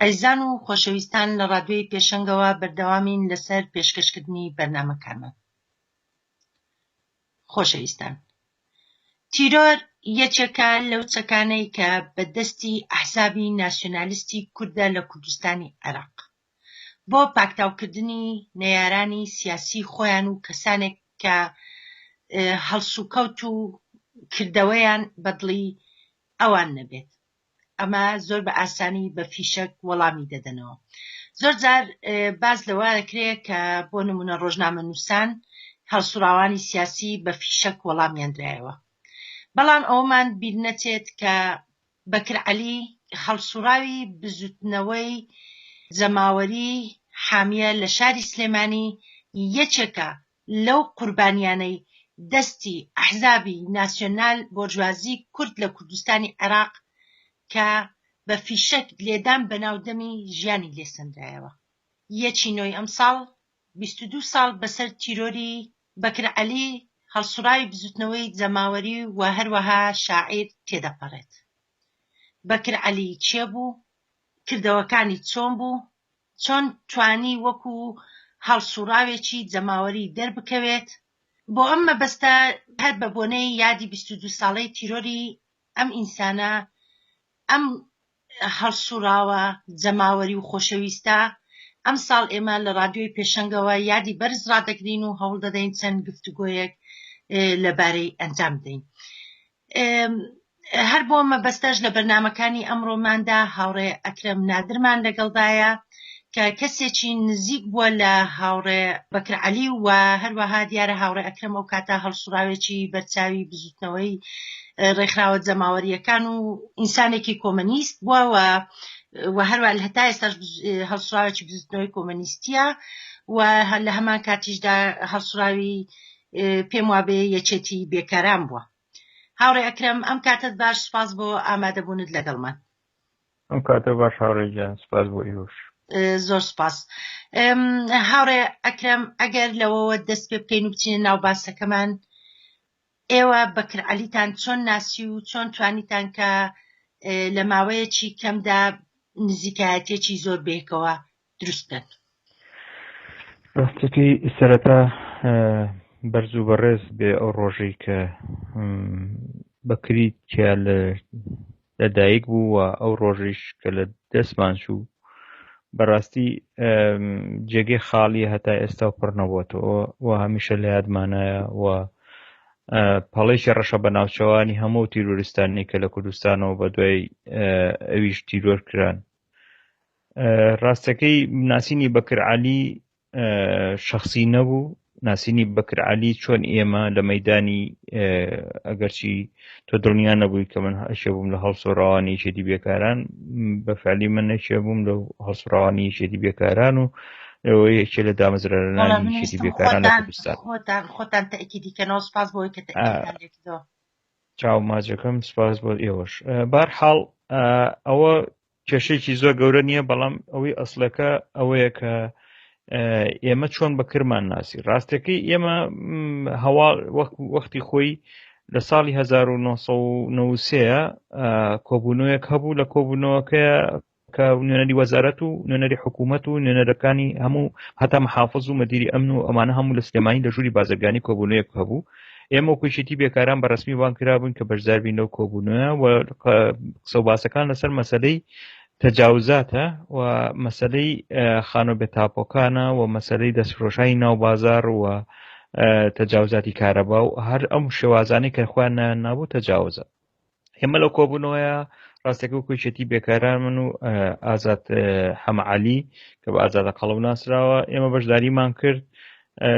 ئەزیزان و خۆشەویستان لە ڕادیۆی پێشەنگەوە بەردەوامین لەسەر پێشکەشکردنی بەرنامەکانمان خۆشەویستان تیرۆر یەکێکە لەو چەکانەی کە بە دەستی ئەحزابی ناسیۆنالیستی کوردە لە کوردستانی عێراق بۆ پاکتاوکردنی نەیارانی سیاسی خۆیان و کەسانێک کە هەڵسوکەوت و کردەوەیان بەدڵی ئەوان نەبێت ئەمە زۆر بە ئاسانی بە فیشەک وەڵامی دەدەنەوە زۆر جار باز لەوە دەکرێت کە بۆ نمونە ڕۆژنامە نووسان هەڵسوڕاوانی سیاسی بە فیشەک وەڵامیاندرایەوە بەڵام ئەومان بیر نەچێت کە بەکرعەلی هەڵسوڕاوی بزوتنەوەی جەماوەری حامیە لە شاری سلێمانی یەکێکە لەو قوربانیانەی دەستی ئەحزابی ناسیۆنال بۆرژوازی کورد لە کوردستانی عێراق کە بە فیشەک لێدان بەناو دەمی ژیانی لێ سەندرایەوە یەکی نۆی ئەمساڵ بیست و دوو ساڵ بەسەر تیرۆری بەکر عەلی هەڵسوڕاوی بزوتنەوەی جەماوەری و هەروەها شاعیر تێدەپەڕێت بەکر عەلی کێ بوو کردەوەکانی چۆن بوو چۆن توانی وەکو هەڵسوڕاوێکی جەماوەری دەربکەوێت، بۆ ئەم مەبەستە هەر بە بۆنەی یادی بیست و دوو ساڵەی تیرۆری ئەم ئینسانە ئەم هەڵسوڕاوە جەماوەری و خۆشەویستە ئەمساڵ ئێمە لە ڕادیۆی پێشەنگەوە یادی بەرز ڕادەگرین و هەوڵدەدەین چەند گفتوگۆیەک لەبارەی ئەنجام بدەین. هەر بۆ مەبەستەش لە بەرنمەکانی ئەمڕۆماندا هاوڕێ ئەکرم نادرمان لەگەڵدایە کە کەسێکی نزیک بووە لە هاوڕێ بەکرعلی و هەروەها دیارە هاوڕێ ئەکرم ئەو کاتا هەڵسوراوێکی بەرچاوی بزوتنەوەی ڕێکخراوە جەماوەریەکان و ئینسانێکی کۆمەنیست بووە و و هەروە هەتا ئێستاش هەڵسراوێکی بزوتنەوەی کۆمەنیستیە و هەر لە هەمان کاتیشدا هەڵسراوی پێم وابێ یەکێتی بێکاران بووە هاوڕێ ئەکرەم ئەم کاتت باش سپاس بۆ ئامادەبوونت لەگەڵمان ئەم کاتە باش هاوڕێ گیان سپاس بۆ ئیوش زۆر سپاس هاوڕێ ئەکرەم ئەگەر لەوەوە دەست پێ بکەین و بچینە ناو باسەکەمان ئێوە بەکر علیتان چۆن ناسی و چۆن توانیتان کە لە ماوەیەکی کەمدا نزیکایەتێکی زۆر بێکەوە دروست بکەن. ڕاستەکەی سەرەتا بەرز و بەڕێز بێ ئەو ڕۆژەی کە بەکری تیا لە لەدایک بوو و ئەو ڕۆژیش کە لە دەستمان چوو بەڕاستی جێگەی خاڵی هەتا ئێستا و پڕ نەبووەوە و هەمیشە لە یادمانایە و پەڵێکی ڕەشە بە ناوچەوانی هەموو تیرۆریستانی کە لە کوردستانەوە بە دوای ئەویش تیرۆر کران ڕاستەکەی ناسینی بەکرعالی شخصی نەبوو ناسینی بەکرعالی چۆن ئێمە لە مەدانی ئەگەرچی تۆ دڵنیا نەبووی کە من هەشێ بووم لە هەڵسۆڕاوانی شێتی بێکاران بەفعلی من نەشێ بووم لە هەڵسڕاوانی شێتی بێکاران و ئەوە یەکێ لە دامەزرارانی شێتی بێکاران لە کوردستان خۆتان خۆتان تەکی دیکەنەوە سپاس بۆی کە چاو ماجەکەم سپاس بۆ ئێوەش بارحاڵ ئەوە کێشەیەکی زۆر گەورە نییە بەڵام ئەوەی ئەسلەکە ئەوەیە کە ئێمە چۆن بەکرمان ناسی ڕاستەکەی ئێمە هەوا وەختی خۆی لە ساڵی 1993ەیە کۆبوونەوەیەک هەبوو لە کۆبوونەوەکە کە نوێنەری وەزارەت و نوێنەری حکوومەت و نوێنەرەکانی هەموو هەتا محافظ و مەدیری ئەمن و ئەمانە هەموو لە سلێمانی لە ژووری بازرگانی کۆبوونەیەک هەبوو ئێمە وەکو یەکێتی بێکاران بە ڕسمی وان کرابوون کە بەشداربین لەو کۆبوونە و قسە و باسەکان لەسەر مەسلەی تەجاوزاتە و مەسلەی خانۆ بێتاپۆکانە و مەسلەی دەستفرۆشانی ناو بازار و تەجاوزاتی کارەبا و هەر ئەم شێوازانەی کە خوان نابوو تەجاوزە ئێمە لەو کۆبوونەوەیە ڕاستەکە و کوچێتی بێکاران من و ئازاد حەمەعالی کە بە ئازادە قەڵم ناسراوە ئێمە بەشداریمان کرد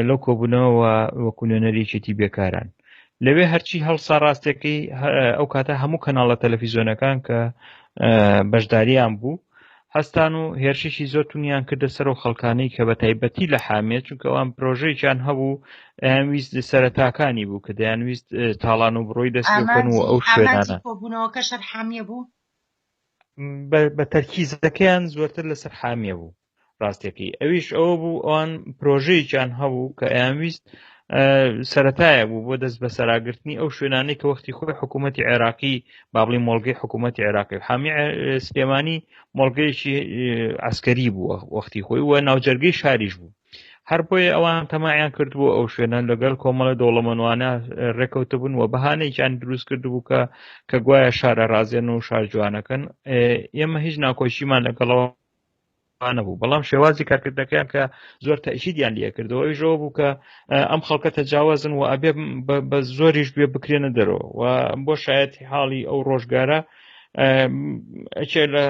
لەو کۆبوونەوە وەکو نوێنەرێکێتی بێکاران لەوێ هەرچی هەڵسا ڕاستەکەی ئەو کاتە هەموو کەناڵە تەلەفیزۆنەکان کە بەشداریان بوو هەستان و هێرشێکی زۆر تونیان کردە سەر و خەڵکانەی کە بە تایبەتی لە حامێ چونکە ئەوان پرۆژەیان هەبوو ئەیانویست سەرەتاکانی بوو کە دەیانویست تاڵان و بڕۆی دەستکەن و ئەو شوێنانە کۆبوونەوەکە شەر حامیە بوو بە تەرکیزەکەیان زۆرتر لەسەر حامیە بوو ڕاستەکەی ئەویش ئەوە بوو ئەوان پرۆژەیەکیان هەبوو کە ئەیانویست سەتایە بوو بۆ دەست بە سەراگرتنی ئەو شوێنانەی کە وەختی خۆی حکوومەتتی عێراقی بابلی مۆلگەی حکوومەتتی عێراقی و حامی سلێمانی مۆلگەیەکی ئەسکەری بووە وەختی خۆی وە ناوجەرگەی شاریش بوو هەر بۆیە ئەوان تەمایان کردبوو ئەو شوێنان لەگەڵ کۆمەڵە دەوڵەمەوانە ڕێکەوتە بوون و بەهانێکیان دروست کردبوو کە کە گوایە شارە ڕازێن و شارجوانەکەن ئێمە هیچ ناکۆشیمان لەگەڵەوە نەبوو بەڵام شێوازی کارکردنەکەیان کە زۆر تەشیدیان لە کردەوە ئەویشەوە بوو کە ئەم خەڵکە تەجاوازن و ئەبێ بە زۆریش بێ بکرێنە دەرەوە و بۆ شایەتی حاڵی ئەو ڕۆژگارە ئەچێ لە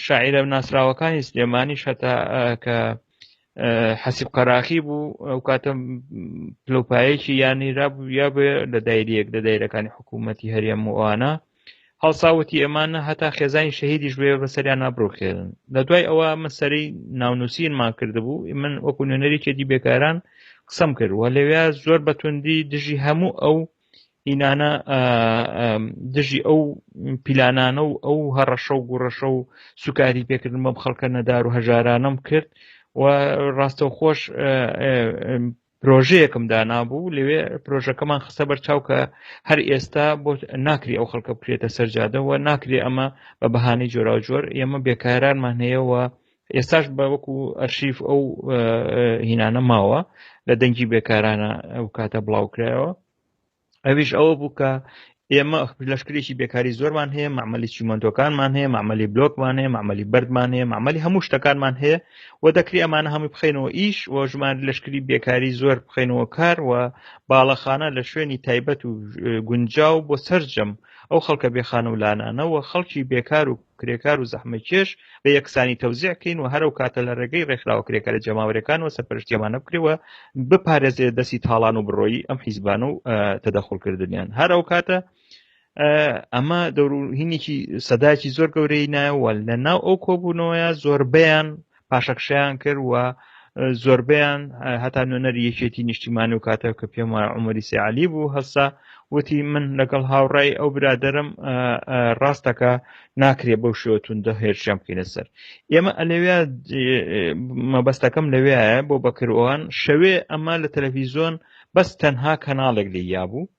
شاعرە ناسراوەکانی سلێمانی شەتا کە حەسیب قەراخی بوو ئەو کاتە پلوپایەکی یانیرا بوو یا بێ لە دایریەک لە دایرەکانی حکوومەتتی هەرێم وانە هەڵسا وتی ئەمان نە هەتا خێزانی شەهیدیش بێ بەسەریان نابڕوخێرن لە دوای ئەوە من سەری ناونووسینمان کردبوو من وەکو نوێنەرێکێتی بێکاران قسەم کرد وە لەوێ زۆر بەتوندی دژی هەموو ئەو ئینانە دژی ئەو پیلانانە و ئەو هەڕەشە و گوڕەشە و سوکاری پێکردن بەم خەڵکە نەدار و هەژارانم کرد و ڕاستەوخۆش پرۆژەیەکم دانابوو لەوێ پرۆژەکەمان خستە بەر چاو کە هەر ئێستا بۆ ناکری ئەو خەڵکە بکرێتە سەرجادەوە ناکرێ ئەمە بە بەهانەی جۆرا و جۆر ئێمە بێکارانمان هەیەەوە ئێستاش بە وەکو ئەرشیف ئەو هینانە ماوە لە دەنگی بێکارانە ئەو کاتە بڵاوکرایەوە ئەویش ئەوە بوو کە ئێمە لەشکرێکی بێکاری زۆرمان هەیە معمەلی چیمەندۆکانمان هەیە معمەلی بلۆکمان هەیە معمەلی بەردمان هەیە معمەلی هەموو شتەکانمان هەیە و دەکری ئەمانە هەمووی بخینەوە ئیش و ژمان لەشکری بێکاری زۆر بخینەوە کار و باڵەخانە لە شوێنی تایبەت و گونجاو بۆ سرجەم ئەو خەڵکە بێخان و لانانەوە خەڵکی بێکار و کرێکار و زەحمەکێش بە یەکسانی تەوزیع کەین و هەرو کاتە لە ڕێگەی ڕێکخراوە کرێکارە جەماوەرەکانەوە سەرپەرشتی ئەمانە بکرێەوە بپارێزێ دەستی تاڵان و بڕۆیی ئەم حیزبان و تەدەخڵکردنیان هەرو کاتە ئەمە دەوروهینێکی سەداکی زۆر گەورەی نایەوە لە ناو ئەو کۆبوونەوەیە زۆربیان پاشەکشەیان کرد و زۆربیان هەتا نوێنەری یەکێتی نیشتیمانی و کاتە کە پێم وایە عمەری سیعالی بوو هەسا وتی من لەگەڵ هاوڕای ئەو برادرم ڕاستەکە ناکرێ بەو شێوە توندە هێرشیان بکەینە سەر ئێمە ئەلەوێ مەبەستەکەم لەوێایە بۆ بەکرۆوان شەوێ ئەمە لە تەلەڤیزۆن بەس تەنها کەناڵێک لێ یابوو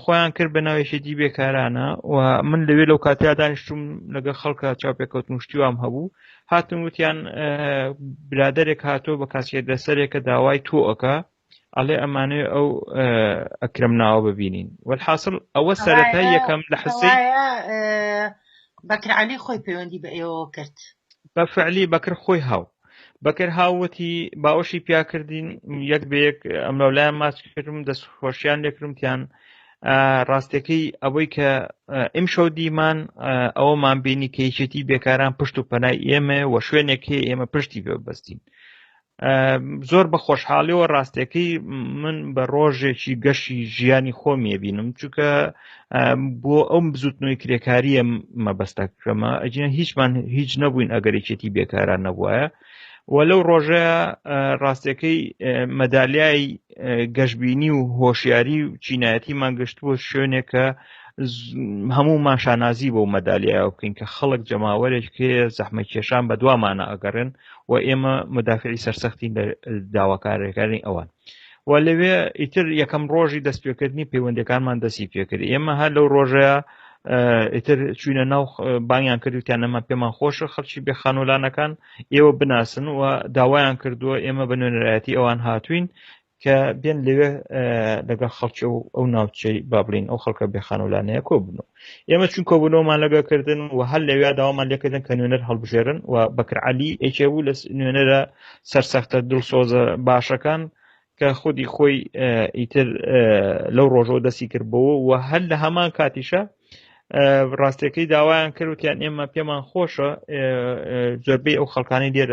خۆیان کرد بە ناوێشێتی بێکارانە و من لەوێ لەو کاتیا دانیشتوم لەگە خەڵکە چاپێکەوت مشتیوام هەبوو هاتم وتیان برادێک هاتۆ بە کاسێت دەسەرێکە داوای تۆەکە ئەڵێ ئەمانێ ئەو ئەکرم ناوە ببینین وەحاصل ئەوە سەرەتا یەکەم لە حسەیە بەکرعالی خۆی پەیوەندی بە ئێوە کرد بە فعلی بەکر خۆی هاو بەکر هاوتی باوەشی پیاکردین یەک بە یەک ئەم لەولایان ماچکردم دەست خۆشیان لێکرمتیان ڕاستەکەی ئەوەی کە ئیم شەو دیمان ئەوەمان بینی کە یەکێتی بێکاران پشت و پەنای ئێمە و شوێنێکی ئێمە پشتی بەبستین زۆر بە خۆشحاڵیەوە ڕاستەکەی من بە ڕۆژێکی گەشی ژیانی خۆم یەبینم چونکە بۆ ئەم بزوتنەوەی کرێکاریە مەبەستە کەمە ئەجیە هیچمان هیچ نەبووین ئەگەرێکێتی بێکاران نەبووە و لەو ڕۆژە ڕاستەکەی مەدالیای گەشببینی و هۆشیاری و چینایەتی مانگەشت بۆ شوێنێکە هەموو ماشانازی بۆ مەدالیایە بکەین کە خەڵک جەماوەرێک کێ زەحمە کێشان بە دوامانە ئەگەڕێن و ئێمە مدافعی سەرسەختین لە داواکارەکانی ئەوان و لەوێ ئیتر یەکەم ڕۆژی دەست پێکردنی پەیوەندەکانمان دەستی پێکرد ئێمە هەر لەو ڕۆژەیە ئیتر چوینە ناو بانیان کردوتیان نەما پێمان خۆشە خەڵکی بێ خانولانەکان ئێوە بناسن و داوایان کردووە ئێمە بە نوێنەرایەتی ئەوان هاتوین کە بێن لەوێ لەگەڵ خەڵکی و ئەو ناوچەی با بڵین ئەو خەڵکە بێ خانولانەیە کۆ بنو ئێمە چون کۆ بنەوەمان لەگە کردن و هەر لەوێ داوامان لێکردن کە نوێنەر هەڵبژێرن و بەکرعالی ئەیکێ بوو لە نوێنەرە سەرسەختە دڵسۆزە باشەکان کە خودی خۆی ئیتر لەو ڕۆژەوە دەستی کردبەوە و هەر لە هەمان کاتیشە ڕاستەکەی داوایان کردوتیان ئێمە پێمان خۆشە زۆربەی ئەو خەڵکانی لێر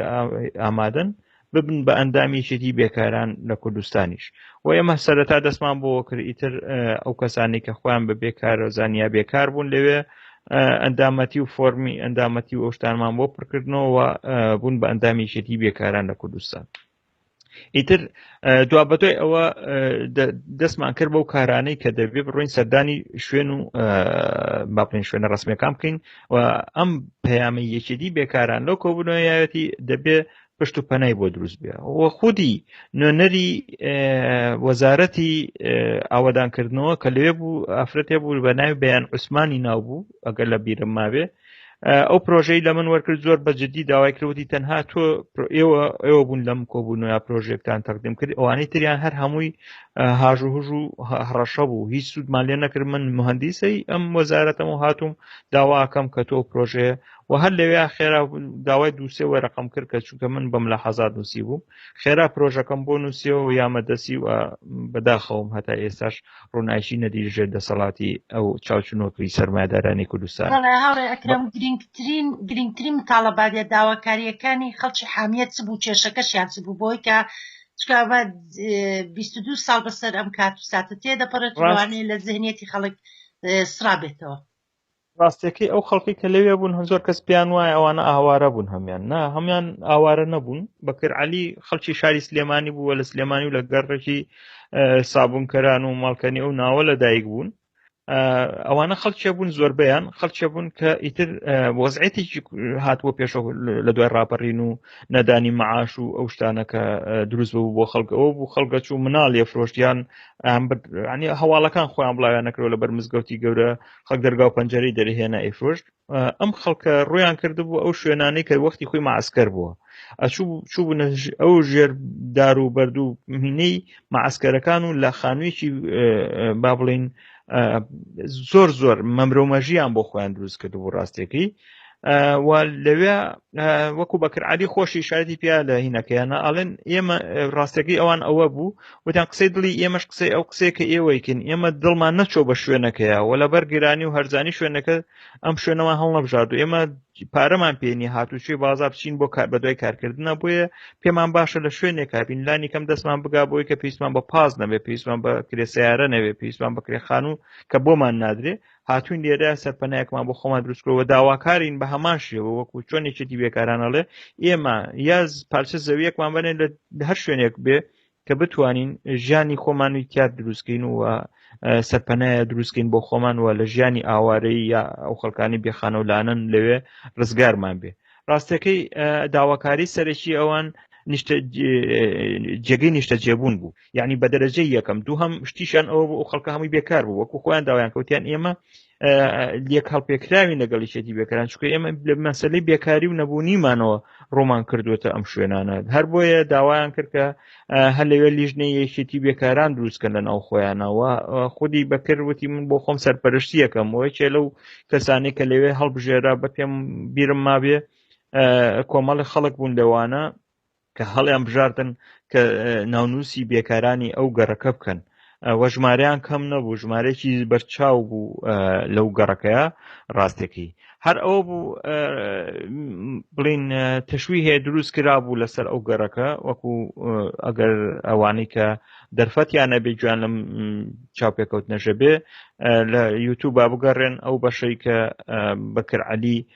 ئامادەن ببن بە ئەندامی یەکێتی بێکاران لە کوردستانیش و ئێمە سەرەتا دەستمان بۆ کرد ئیتر ئەو کەسانی کە خۆیان بە بێکارە زانیا بێکار بوون لەوێ ئەندامەتی و فۆرمی ئەندامەتی و ئەوشتانمان بۆ پڕکردنەوە بوون بە ئەندامی یەکێتی بێکاران لە کوردستان ئیتر دوا بەدوای ئەوە دەستمان کرد بەو کارانەی کە دەبێ بڕۆین سەردانی شوێن و باپین شوێنە ڕسمەکان بکەین و ئەم پەیامی یەکێتی بێکاران لەو کۆبوونەوەیەتی دەبێ پشت و پەنای بۆ دروست بێ و خودی نوێنەری وەزارەتی ئاوادانکردنەوە کە لەوێ بوو ئافرەتێ بوو بە ناوی بەیان عوسمانی ناو بوو ئەگەر لە بیرم ماوێ ئەو پرۆژەی لە من وەرکرد زۆر بە جددی داوای کردوتی تەنها تۆ ئێوە ئێوە بوون لەم کۆبوون یا پرۆژێکتان تەقدیم کرد ئەوانەی تریان هەر هەمووی هاژ و هژ و هەڕەشە بوو هیچ سوودمان لێ نەکرد من مهندیسەی ئەم وەزارەتەم و هاتووم داواکەم کە تۆ پرۆژێ و هەر لەوێ خێرا داوای دووسێ وەرەقم کرد کە چونکە من بەم لە حەزات نووسی بووم خێرا پرۆژەکەم بۆ نووسیەوە و یامەدەسی و بەداخەوم هەتا ئێستاش ڕوونایشی نەدی ژێر دەسەڵاتی ئەو چاوچنۆکری سەرمایدارانی کوردستان هاوڕێ ئەکرم گرنگترین گرنگترین تاڵەبادە داواکاریەکانی خەڵکی حامیت چ بوو کێشەکەشیان چ بوو بۆی کە چکبە 22 ساڵ بەسەر ئەم کات و ساتە تێدەپەڕێت ڕوانێ لە زهنیەتی خەڵک سرابێتەوە ڕاستەکەی ئەو خەڵکی کە لەوێ بوون هەم زۆر کەس پێیان وایە ئەوانە ئاوارە بوون هەمان نا هەمان ئاوارە نەبوون بەکر علی خەڵکی شاری سلێمانی بووە لە سلێمانی و لە گەڕێکی سابونکەران و ماڵکەنی ئەو ناوە لە دایک بوون ئەوانە خەڵکیە بوون زۆربیان خەڵکیە بوون کە ئیتر وەزعێتی هاتووە پێشە لە دوای ڕاپەڕین و نەدانی معاش و ئەو شتانە کە دروست بوو بۆ خەڵکەوە بوو خەڵگە چوو مناڵ لێ فرۆشتیان ئەم هەواڵەکان خۆیان بڵاویان نەکرەوە لە بەرمزگەوتی گەورە خەک دەرگاو پەنجەری دەرهێنا ئەیفرۆشت ئەم خەڵکە ڕویان کرد بوو ئەو شوێنانەی کە وەختی خۆی ماسکەر بووە ئەچوو چوو بوو ئەو ژێر دار و بەردوو مینەی ماسکەرەکان و لە خانوویەکی با بڵین زۆر زۆر مەمرۆمەژیان بۆ خۆیان دروست کرد بوو ڕاستێکی و لەوێ وەکو بەکرعادی خۆشی شایدی پیا لە هینەکەیانە ئەڵێن ئێمە ڕاستەکەی ئەوان ئەوە بوو وتیان قسەی دڵی ئێمەش قسەی ئەو قسەیە کە ئێوەیکن ئێمە دڵمان نەچۆ بە شوێنەکەیە و لە بەرگرانی و هەرزانی شوێنەکە ئەم شوێنەوە هەڵنەبژارد و ئێمە پارەمان پێنی هاتوچێ بازار بچین بۆ کار بەدوای کارکردنە بۆیە پێمان باشە لە شوێنێک کابین لانی کەم دەستمان بگا بۆی کە پێیسمان بە پاس نەبێ پێیسمان بە کرێسیارە نەوێ پێیسمان بەکرێخان و کە بۆمان نادرێ هاتوین لێرە سەرپەنایەکمان بۆ خۆمان دروستکەوە داواکارین بە هەمان شێوە وەکو چۆن یەکێتی بێکارانەڵێ ئێمە یاز پارچە زەویەکمان بنێن لە هەر شوێنێک بێ کە بتوانین ژیانی خۆمانی تیاد دروستکەین و سەرپەنایە دروستکەین بۆ خۆمان وە لە ژیانی ئاوارەی یا ئەو خەڵکانی بێخانەولانن لەوێ ڕزگارمان بێ ڕاستەکەی داواکاری سەرەکی ئەوان جێگەی نیشتە جێبوون بوو یعنی بە دەرەجەی یەکەم دوو هەم شتیشان ئەوە بۆ خەڵکە هەمووی بێکار بوو وەکو خۆیان داوایان کەوتیان ئێمە لێک هەڵپێکراوی لەگەڵی شێتی بێکاران چکە ئێمە لە مەسلەی بێکاری و نەبوونیمانەوە ڕۆمان کردوێتە ئەم شوێنانە هەر بۆیە داوایان کرد کە هەر لەوێ لیژنەی یەکێتی بێکاران دروستکە لە ناو خۆیانەوە خودی بەکرد وتی من بۆ خۆم سەرپەرشتیەکەم وەی چێ لەو کەسانی کە لەوێ هەڵبژێرا بە پێم بیرم مابێ کۆمەڵی خەڵک بوون لەوانە کە هەڵیان بژاردن کە ناونووسی بێکارانی ئەو گەڕەکە بکەن وە ژمارەیان کەم نەبوو ژمارەێکی بەرچاو بوو لەو گەڕەکەیە ڕاستەکەی هەر ئەوە بوو بڵین تەشوی هەیە دروست کرا بوو لەسەر ئەو گەڕەکە وەکو ئەگەر ئەوانەی کە دەرفەتیان نەبێ گویان لەم چاوپێکەوت نەژەبێ لە یوتوب با بگەڕێن ئەو بەشەی کە بەکرعلی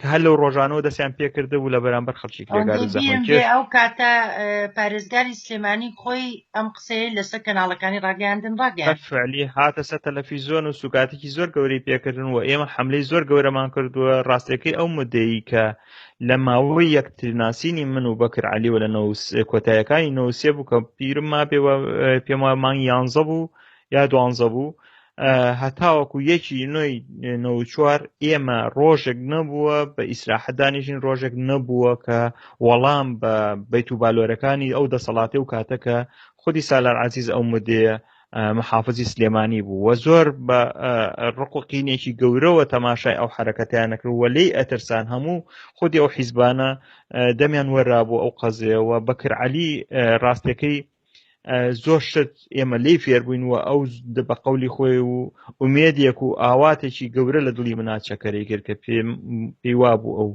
کە هەر لەو ڕۆژانەوە دەستیان پێکرد بوو لە بەرامبەر خەڵکی کرێگار ئەو کاتە پارێزگاری سلێمانی خۆی ئەم قسەیە لەسەر کەناڵەکانی ڕاگەاندن ڕاگەلی هاتە سەر تەلەفیزۆن و سوکاتێکی زۆر گەورەی پێکردن و ئێمە حملەی زۆر گەورەمان کردووە ڕاستەکەی ئەو مدەیی کە لە ماوەی یەکترناسینی من و بەکر علیوە لە کۆتایەکانی نووسێ بوو کە پیرم ما پێ پێم مانگ یانزە بوو یا دوانزە بوو هەتاوەکو یەکی نوێی نەوچوار ئێمە ڕۆژێک نەبووە بە ئیسراحەدانیژین ڕۆژێک نەبووە کە وەڵام بە بیت و بالۆرەکانی ئەو دەسەڵاتی و کاتەکە خودی سالار عزیز ئەو مدەیە محافزی سلێمانی بوو وە زۆر بە ڕقوقینێکی گەورەوە تەماشای ئەو حرەکەتیانەکرد وە لی ئەترسان هەموو خودی ئەو حیزبانە دەمیان وەرا بوو ئەو قەزەوە بەکرعلی ڕاستەکەی زۆر شت ئێمە لی فێربووین و ئەو بە قولی خۆی و ئومێدێک و ئاواتێکی گەورە لە دڵی مناچەکەری کرد کە پێم پێیوا بوو ئەو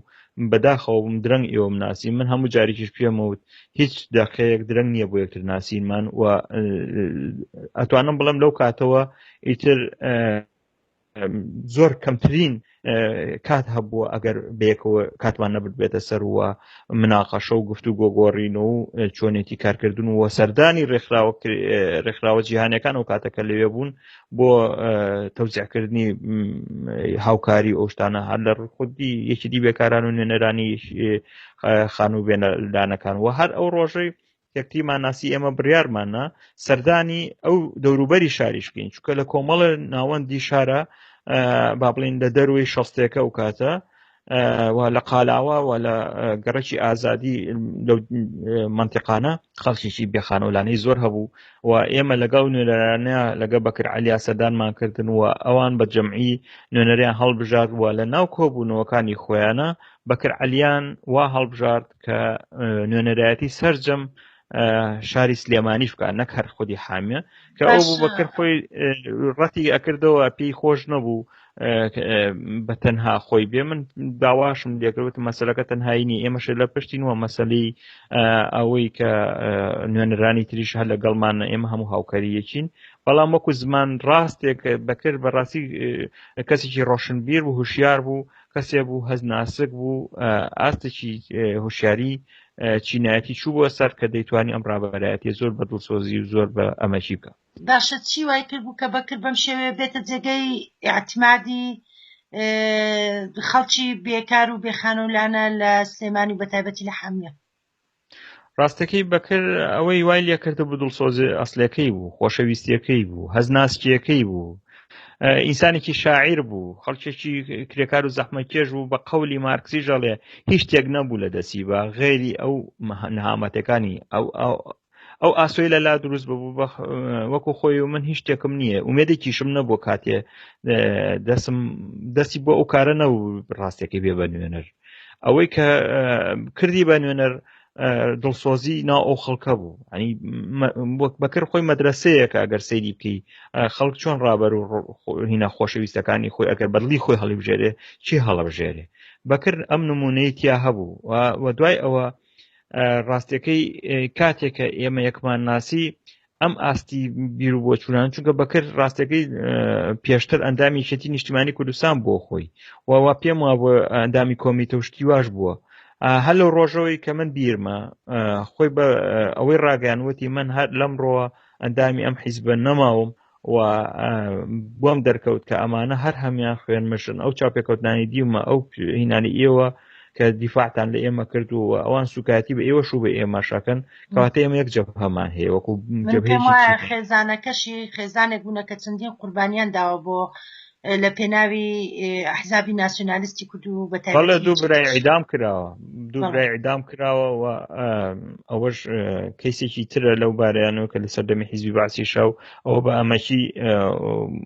بەداخەوەم درەنگ ئێوە مناسی من هەموو جارێکیش پێمەوت هیچ دەقەیەک درەنگ نییە بۆ یەکتر ناسینمان و ئەتوانم بڵم لەو کاتەوە ئیتر زۆر کەمترین کات هەبووە ئەگەر بەیەکەوە کاتمان نەبێتە سەروە مناقەشە و گفتو گۆگۆڕین و چۆنێتی کارکردن و سەردانی ڕێکخراوە ڕێکخراوە جیهانەکان و کاتەکە لەوێ بوون بۆ تەوزیعکردنی هاوکاری ئەوشتانە هەر لە خودی یەکی دی بێکاران و نوێنەرانی خانوو بێنەدانەکان و هەر ئەو ڕۆژەی کەکتیمان ناسی ئێمە بڕارمانە سەردانی ئەو دەوروبەری شاریش بکەین چکە لە کۆمەڵە ناوەندی شارە با بڵین لە دەروی شەستێکە و کاتە و لە قالاوە و لە گەڕکی ئازادی لە منتیقانە خەڵکیی بێخانەولانەی زۆر هەبوو و ئێمە لەگەڵ نوێرانە لەگە بەکر علیا سەدانمان کردن و ئەوان بە جەمعی نوێنەریان هەڵبژارد و لە ناو کۆبوونەوەکانی خۆیانە بەکر علیان وا هەڵبژارد کە نوێنەرایەتی سرجەم شاری سلێمانیش بکات نەک هەر خودی حامیە کە ئەو بوو بەکرد خۆی ڕەتی ئەکردەوە پێی خۆش نەبوو بە تەنها خۆی بێ من داواشم لێکردوت مەسلەکە تەنهایینی ئێمەش لە پشتی وە مەسلی ئەوەی کە نوێنەرانی تریش هەر لە گەڵمان ئێمە هەموو هاوکاریەکین بەڵام وەکو زمان ڕاستێک بەکرد بەڕاستی کەسێکی ڕۆشنبیر و هوشیار بوو کەسێ بوو هەز ناسک بوو ئاستێکی هوشیاری چینایەتی چوو بۆ سەر کە دەیتوانی ئەم ڕابەرایەتی زۆر بە دڵسۆزی و زۆر بە ئەمەکی بکە باشە چی وای کرد بوو کە بەکر بەم شێوێ بێتە جێگەی ئاعتمادی خەڵکی بێکار و بێخانەولانە لە سلێمانی بە تایبەتی لە حامیە ڕاستەکەی بەکر ئەوەی وای لێکردبوو دڵسۆزێ ئەسلەکەی بوو خۆشەویستیەکەی بوو هەزناسکیەکەی بوو ئینسانێکی شاعیر بوو خەڵکێکی کرێکار و زەحمەکێش بوو بە قەولی مارکسی ژەڵێ هیچ شتێک نەبوو لە دەستی بە غێری ئەو نهامەتەکانی ئەو ئەو ئاسۆی لە لا دروست ببوو وەکو خۆی و من هیچ شتێکم نییە ومێدێکیشم نەبوو کاتێ دەسم دەستی بۆ ئەو کارە نەبوو ڕاستێکی بێ بە نوێنەر ئەوەی کە کردی بە نوێنەر دڵسۆزی ناو ئەو خەڵکە بوو ئەنی وەک بەکر خۆی مەدرسەیەکە ئەگەر سەیری بکەی خەڵک چۆن ڕابەر و هینا خۆشەویستەکانی خۆی ئەگەر بەدلی خۆی هەڵیبژێرێ چی هەڵبژێرێ بەکرد ئەم نمونەی تیا هەبوو و دوای ئەوە ڕاستیەکەی کاتێکە ئێمە یەکمان ناسی ئەم ئاستی بیر و بۆچوونان چونکە بەکرد ڕاستەکەی پێشتر ئەندامی شێتی نیشتیمانی کوردستان بۆ خۆی ووا پێم وا بۆ ئەندامی کۆمیتە و شتی واش بووە هەر لەو ڕۆژەوەی کە من بیرمە خۆی بە ئەوەی ڕاگەیانوەتی من هەر لەم ڕۆوە ئەندامی ئەم حیزبە نەماوم و بۆم دەرکەوت کە ئەمانە هەر هەمیان خوێن مشن ئەو چاپێکەوتانی دیومە ئەو هینانی ئێوە کە دیفاعتان لە ئێمە کرد و ئەوان سوکایەتی بە ئێوە شو بە ئێمەشەکەن کەواتە ئێمە یەک جەب هەمان هەیە وەکو خێزانەکەشی خێزانێک بوونە کە چەندین قوربانیان داوە بۆ لە پێناوی ئەحزابی ناسیۆنالیستی کورد و بە تایبەت دوو برای ئیدام کراوە دوو برای ئیدام کراوە و ئەوەش کەیسێکی ترە لەو بارەیانەوە کە لە سەردەمی حیزبی باسی شاو ئەوە بە ئەمەکی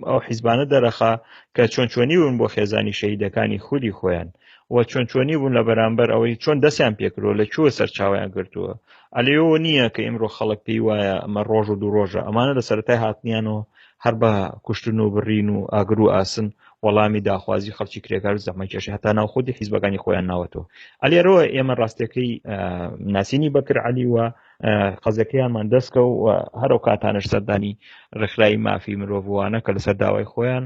ئەو حیزبانە دەرەخا کە چۆن چۆنی بوون بۆ خێزانی شەهیدەکانی خودی خۆیان و چۆن چۆنی بوون لە بەرامبەر ئەوەی چۆن دەستیان پێکرۆ لە کووە سەرچاویان گرتووە ئەلەوە نییە کە ئیمڕۆ خەڵک پێی وایە ئەمە ڕۆژ و دوو ڕۆژە ئەمانە لە سەرای هاتنیانەوە هەر بە کوشتن و بڕین و ئاگر و ئاسن وەڵامی داخوازی خەڵکی کرێکار و زەمەکێشی هەتا ناو خودی حیزبەکانی خۆیان ناوەتەوە ئەلێرەوە ئێمە ڕاستەکەی ناسینی بەکر علی وە قەزەکەیانمان دەستکە و هەرو کاتانش سەردانی ڕێکخراوی مافی مرۆڤوانە کە لەسەر داوای خۆیان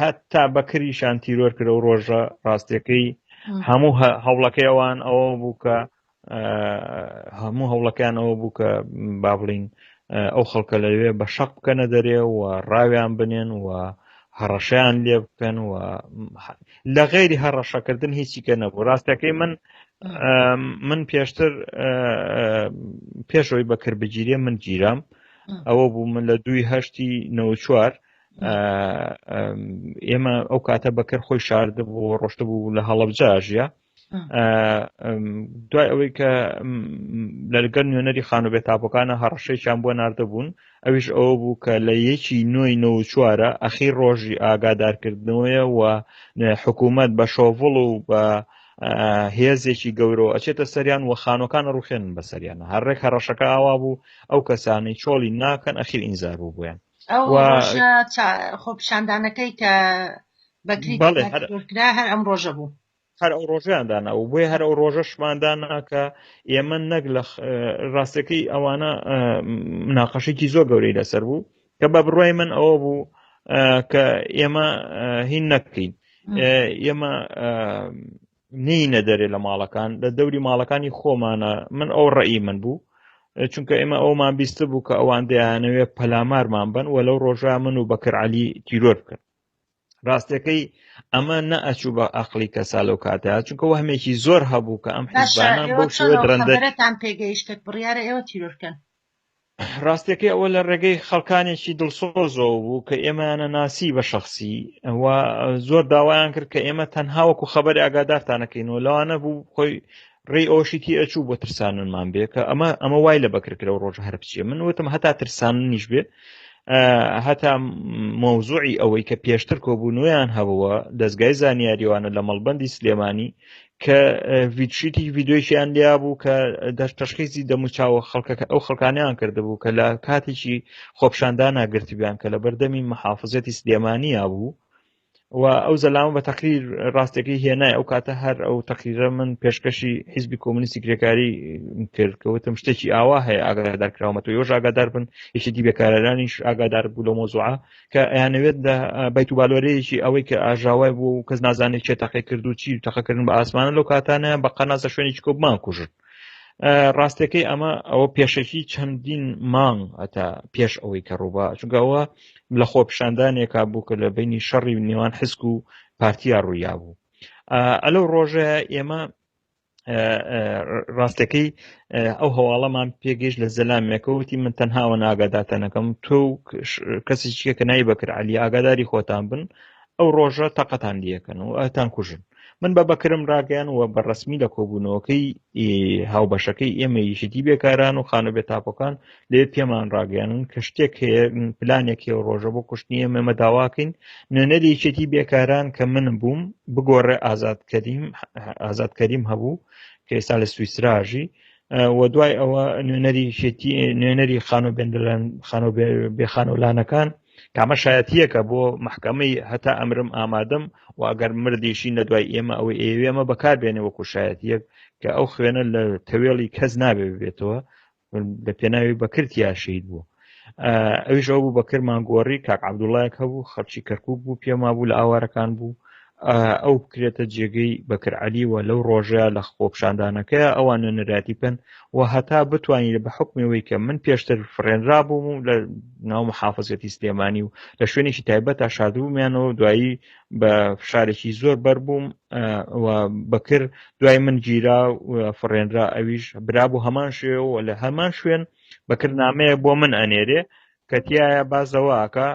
هەتا بەکریشان تیرۆر کرە و ڕۆژە ڕاستەکەی هەموو هەوڵەکەی ئەوان ئەوە بوو کە هەموو هەوڵەکان ئەوە بوو کە با بڵین ئەو خەڵکە لەوێ بە شەق بکەنە دەرێ و ڕاویان بنێن و هەڕەشیان لێ بکەن و لە غێری هەڕەشەکردن هیچی کە نەبوو ڕاستەکەی من من پێشتر پێشەوەی بەکربگیرێ من گیرام ئەوە بوو من لە دوی هەشتی نەوە چوار ئێمە ئەو کاتە بەکەر خۆی شارد بۆ ڕۆشتە بوو لە هەڵبجا ژە دوای ئەوەی کە لەگەر نوێنەری خانو بێ تاپەکانە هەڕەشەیان بۆ نردەبوون ئەویش ئەوە بوو کە لە یەکی نوۆی نە چوارە ئەخی ڕۆژی ئاگادارکردنەوەیە و حکوومەت بە شۆڤڵ و بە هێزێکی گەورەوە ئەچێتە سەریان و خانۆکان ڕوخێن بە سەریانە هەرڕێک هەڕەشەکە ئاوا بوو ئەو کەسانی چۆڵی ناکەن ئەخیر ئینزار بوو بوویان ئەو ڕۆژە خۆپیشاندانەکەی کە بەکری کرا هەر ئەم ڕۆژە بوو هەر ئەو ڕۆژیان دانا و بۆی هەر ئەو ڕۆژەشماندا ناکە ئێمە نەک لە ڕاستەکەی ئەوانە مناقەشێکی زۆر گەورەی لەسەر بوو کە بە بڕای من ئەوە بوو کە ئێمە هین نەکەین ئێمە نینە دەرێ لە ماڵەکان لە دەوری ماڵەکانی خۆمانە من ئەو ڕێی من بوو چونکە ئێمە ئەومان بیست بوو کە ئەوان دەیانەوێ پەلامارمان بن و لەو ڕۆژە من و بەکر علی تیرۆر بکەن ڕاستەکەی ئەمە نەئەچوو بە ئەقلی کەسا لەو کاتە چونکە وەهمێکی زۆر هەبوو کە ئەم حزبانە بۆ شوێ درەندەتان پێگەیشتێک بڕیارە ئێوە تیرۆرکەن ڕاستەکەی ئەوە لە ڕێگەی خەڵکانێکی دڵسۆزەوە بوو کە ئێمەیانە ناسی بە شخصی ئەوە زۆر داوایان کرد کە ئێمە تەنها وەکو خەبەر ئاگادارتانەکەین و لەوانە بوو خۆی ڕێ ئەوشی تی ئەچوو بۆ ترسانمان بێ کە ئەمە ئەمە وای لە بەکرکرە و ڕۆژ هەر بچێ من وتم هەتا ترساننیش بێ هەتا مۆزوعی ئەوەی کە پێشتر کۆبوونویان هەبووە دەستگای زانیاریوانە لە مەڵبندی سلێمانی کە ویدشیتی ویددیویان لیا بوو کە دەست تشخیزی دەموچاوە خەڵکەکە ئەو خەڵکانیان کردبوو کە لە کاتێکی خۆپشاندا ناگرتبیان کە لە بەردەمی محافزەتی سلێمانیا بوو و ئەو زەلامە بە تەقری ڕاستەکەی هێنای ئەو کاتە هەر ئەو تەقریرە من پێشکەشی حیزبی کۆمنیستی کرێکاری کرد کەوتم شتێکی ئاوا هەیە ئاگادار کراوەتەوە یۆژ ئاگادار بن یەکێتی بێکارەرانیش ئاگادار بوو لە مۆزوعە کە ئەیانەوێت لە بیت و بالۆرەیەکی ئەوەی کە ئاژاوای بوو و کەس نازانێت چێ تەقی کرد و چی تەقەکردن بە ئاسمانە لەو کاتانە بە قەناسە شوێنێکی کۆبمان کوژن ڕاستەکەی ئەمە ئەوە پێشەکی چەندین مانگ ئەتا پێش ئەوەی کە ڕووبا چگەوە لە خۆ پیشاندانێکا بوو کە لە بینی شەڕی نێوان حسک و پارتیا ڕوویا بوو ئەلەو ڕۆژە ئێمە ڕاستەکەی ئەو هەواڵەمان پێگەیش لە زەلامێکەوتی من تەنهاوە ناگاداتەنەکەم تۆ کەسی چیە کە نای بەکر علی ئاگاداری خۆتان بن ئەو ڕۆژە تەقەتان دیەکەن و ئەتان کوژن من بە بەکرم ڕاگەیان وە بە ڕسمی لە کۆبوونەوەکەی هاوبەشەکەی ئێمە یشتی بێکاران و خانە بێتاپەکان لێ پێمان ڕاگەیانن کە شتێک هەیە پلانێک هەیە ڕۆژە بۆ کوشتنی ئێمە داواکەین نوێنەری یەکێتی بێکاران کە من بووم بگۆڕێ ئازاد کەریم ئازاد کەریم هەبوو کە ئێستا لە سویسراژی و دوای ئەوە نوێنەری شێتی نوێنەری خانۆ بندلەن خانۆ بێخانۆلانەکان کامە شایەتیەکە بۆ محکمەی هەتا ئەمرم ئامادەم و ئەگەر مردیشی لە دوای ئێمە ئەوەی ئێوێمە بەکار بێنێ وەکو شایەتیەک کە ئەو خوێنە لە تەوێڵی کەس نابێ بێتەوە لە پێناوی بەکرد یا شید بوو ئەویش ئەو بوو بەکرمان گۆڕی کاک عبدوڵایەک هەبوو خەڵکی کەرکک بوو پێما بوو لە ئاوارەکان بوو ئەو بکرێتە جێگەی بەکرعلیوە لەو ڕۆژەیە لە خۆپشاندانەکەی ئەوان نوێنەراتی بن و هەتا بتوانین بە حکمەوەی کە من پێشتر فرێنرا بووم و لە ناو محافزەتی سلێمانی و لە شوێنێکی تایبەت تا شادبوومیانەوە دوایی بە فشارێکی زۆر بەر بووم بەکر دوای من گیرا فڕێنرا ئەویش برا بۆ هەمان شێەوە لە هەمان شوێن بەکرد نامەیە بۆ من ئەنێرێ کە تایە بازەواکە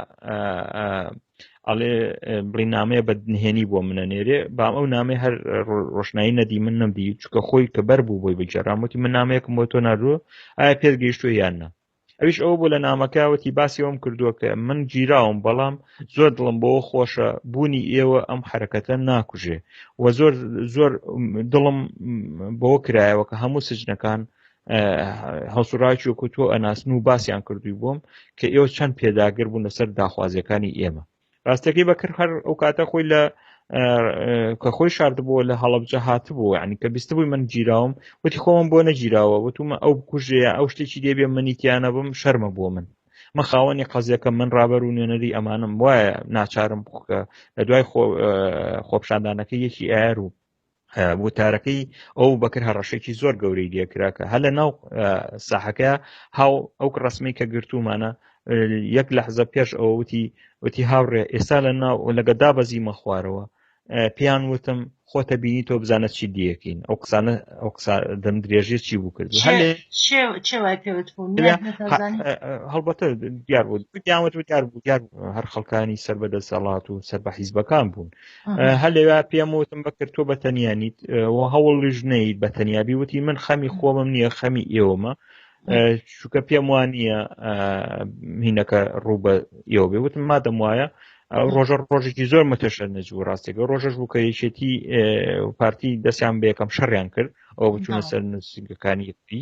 ئەڵێ بڵی نامەیە بە نهێنی بۆ منە نێرێ بام ئەو نامەی هەر ڕۆشنایی نەدی من نەمدی چکە خۆی کە بەر بوو بۆی بگەڕامەتی من نامەیەکم بۆ تۆ ناردووە ئایا پێت گەیشتوە یان نە ئەویش ئەوە بۆ لە نامەکە وتی باسی ئەوم کردووە کە من گیراوم بەڵام زۆر دڵم بۆ خۆشە بوونی ئێوە ئەم حرەکەتە ناکوژێ و زۆر زۆر دڵم بۆ کرایەوە کە هەموو سجنەکان هەڵسوڕاکی وکوتۆ ئەناسن و باسییان کردووی بووم کە ئێوە چەند پێداگر بوون لەسەر داخوازیەکانی ئێمە ڕاستەکەی بەکر هەر ئەو کاتە خۆی لە کە خۆی شاردبووە لە هەڵبجە هاتبوو ینی کە بیست بووی من گیراوم وتی خۆم بۆ نەگیراوە وتومە ئەو بکوژێ ئەو شتێکی دێبێ منیتیانە بم شەرمە بۆ من من خاوەنی قەزیەکە من ڕابەر و نوێنەری ئەمانم وایە ناچارم بکە لە دوای خۆپشاندانەکە یەکی ئار و وتارەکەی ئەو بەکر هەڕەشێکی زۆر گەورەی لێکرا کە هەلە ناو ساحەکە هاو ئەو ڕسمی کە گرتومانە یەک لە حزە پێش ئەوەوتی وتی هاوڕێ ئێستا لە ناو لەگە دابەزیمە خوارەوە پێیان وتم خۆتە بینی تۆ بزانە چی دیەکەین ئەو قسانە ئەو قسا دەم درێژێ چی بوو کرد هەڵبەتە دیار بوو دیاوت و دیار بوو دیار هەر خەڵکانی سەر بە دەسەڵات و سەر بە حیزبەکان بوون هە لەوێ پێم وتم بەکرد تۆ بەتەنیانیت و هەوڵ ژنەیت بە تەنیابی وتی من خەمی خۆمم نییە خەمی ئێوەمە چووکە پێم وان نییە هینەکە ڕوو بە ئێوە بێ وتم مادەم وایە ڕۆژە ڕۆژێکی زۆر متەشە نەج و ڕاستێکە ڕۆژەش بوو کە یەکێتی پارتی دەستیان بەیەکەم شەڕیان کرد ئەو بچوونە سەر نووسنگەکانی یەکتی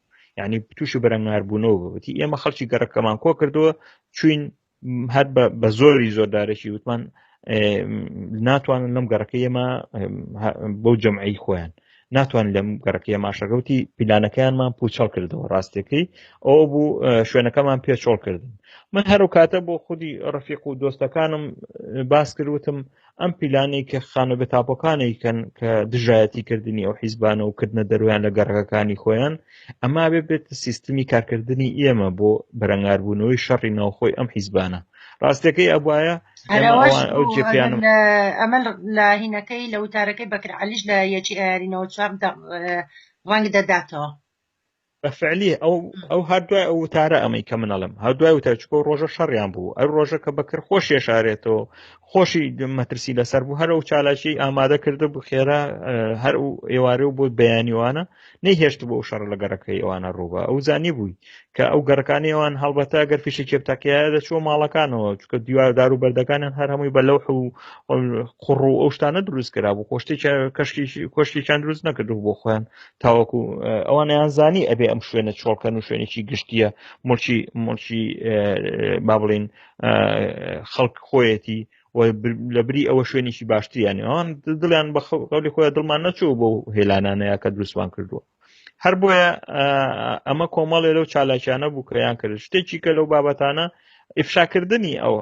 یعنی تووشی بەرەنگاربوونەوە بەوتی ئێمە خەڵکی گەڕەکەمان کۆ کردووە چوین هەر بە زۆری زۆردارێکی وتمان ناتوانن لەم گەڕەکە ئێمە بۆ جەمعی خۆیان ناتوان لەم گەڕەکە ماشەگەوتی پیلانەکەیانمان پوچەڵ کردەوە ڕاستەکەی ئەو بوو شوێنەکەمان پێچۆڵ کردن من هەرو کاتە بۆ خودی ڕفیق و دۆستەکانم باس کردوتم ئەم پیلانەی کە خانە بە تاپۆکانێک کەن کە دژایەتی کردنی ئەو حیزبانە و کردنە دەرویان لە گەڕەکەکانی خۆیان ئەما بێ بێت سیستمی کارکردنی ئێمە بۆ بەرەنگاربوونەوەی شەڕی ناوخۆی ئەم حیزبانە ڕاستەکەی ئەبواە ئەمە لە هینەکەی لە وتارەکەی بەکرعالیش لە یەکی ئارینەوە چوار ڕەنگ دەداتەوە بە فعلی ئەو ئەو هەر دوای ئەو وتارە ئەمەی کە منەڵم هەر دوای وتە چکۆ ڕۆژە شەڕیان بوو ئەو ڕۆژە کە بەکر خۆش یشارێتەوە خۆشی مەترسی لەسەر بوو هەر و چالاکی ئامادە کرد بوو خێرا هەر و ئێوارێ و بۆ بەیانیوانە نەیهێشت بۆ شەڕ لە گەڕەکە ئێوانە ڕووبە ئەو زانی بووی کە ئەو گەڕەکانی ئەوان هەڵبەتە گەر فیشی کێبتاکەیە دەچوە ماڵەکانەوە چکە دیواردار و بەردەکانیان هەر هەمووی بە لەو حو قڕ و ئەو شتانە دروست کرا بوو خۆشتی کەشکی کۆشتێکیان دروست نەکردو بۆ خۆیان تاوەکو ئەوانیان زانی ئەبێ ئەم شوێنە چۆڵکەن و شوێنێکی گشتیە مڵکی مڵکی با بڵین خەڵک خۆیەتی لە بری ئەوە شوێنێکی باشتریانی ئەوان دڵیان بە خەڵی خۆیان دڵمان نەچوو بۆ هێلانانەیە کە دروستمان کردووە هەر بۆیە ئەمە کۆمەڵێ لەو چالاکیانە بوو کە یان کرد شتێکی کە لەو بابەتانە ئفشاکردنی ئەو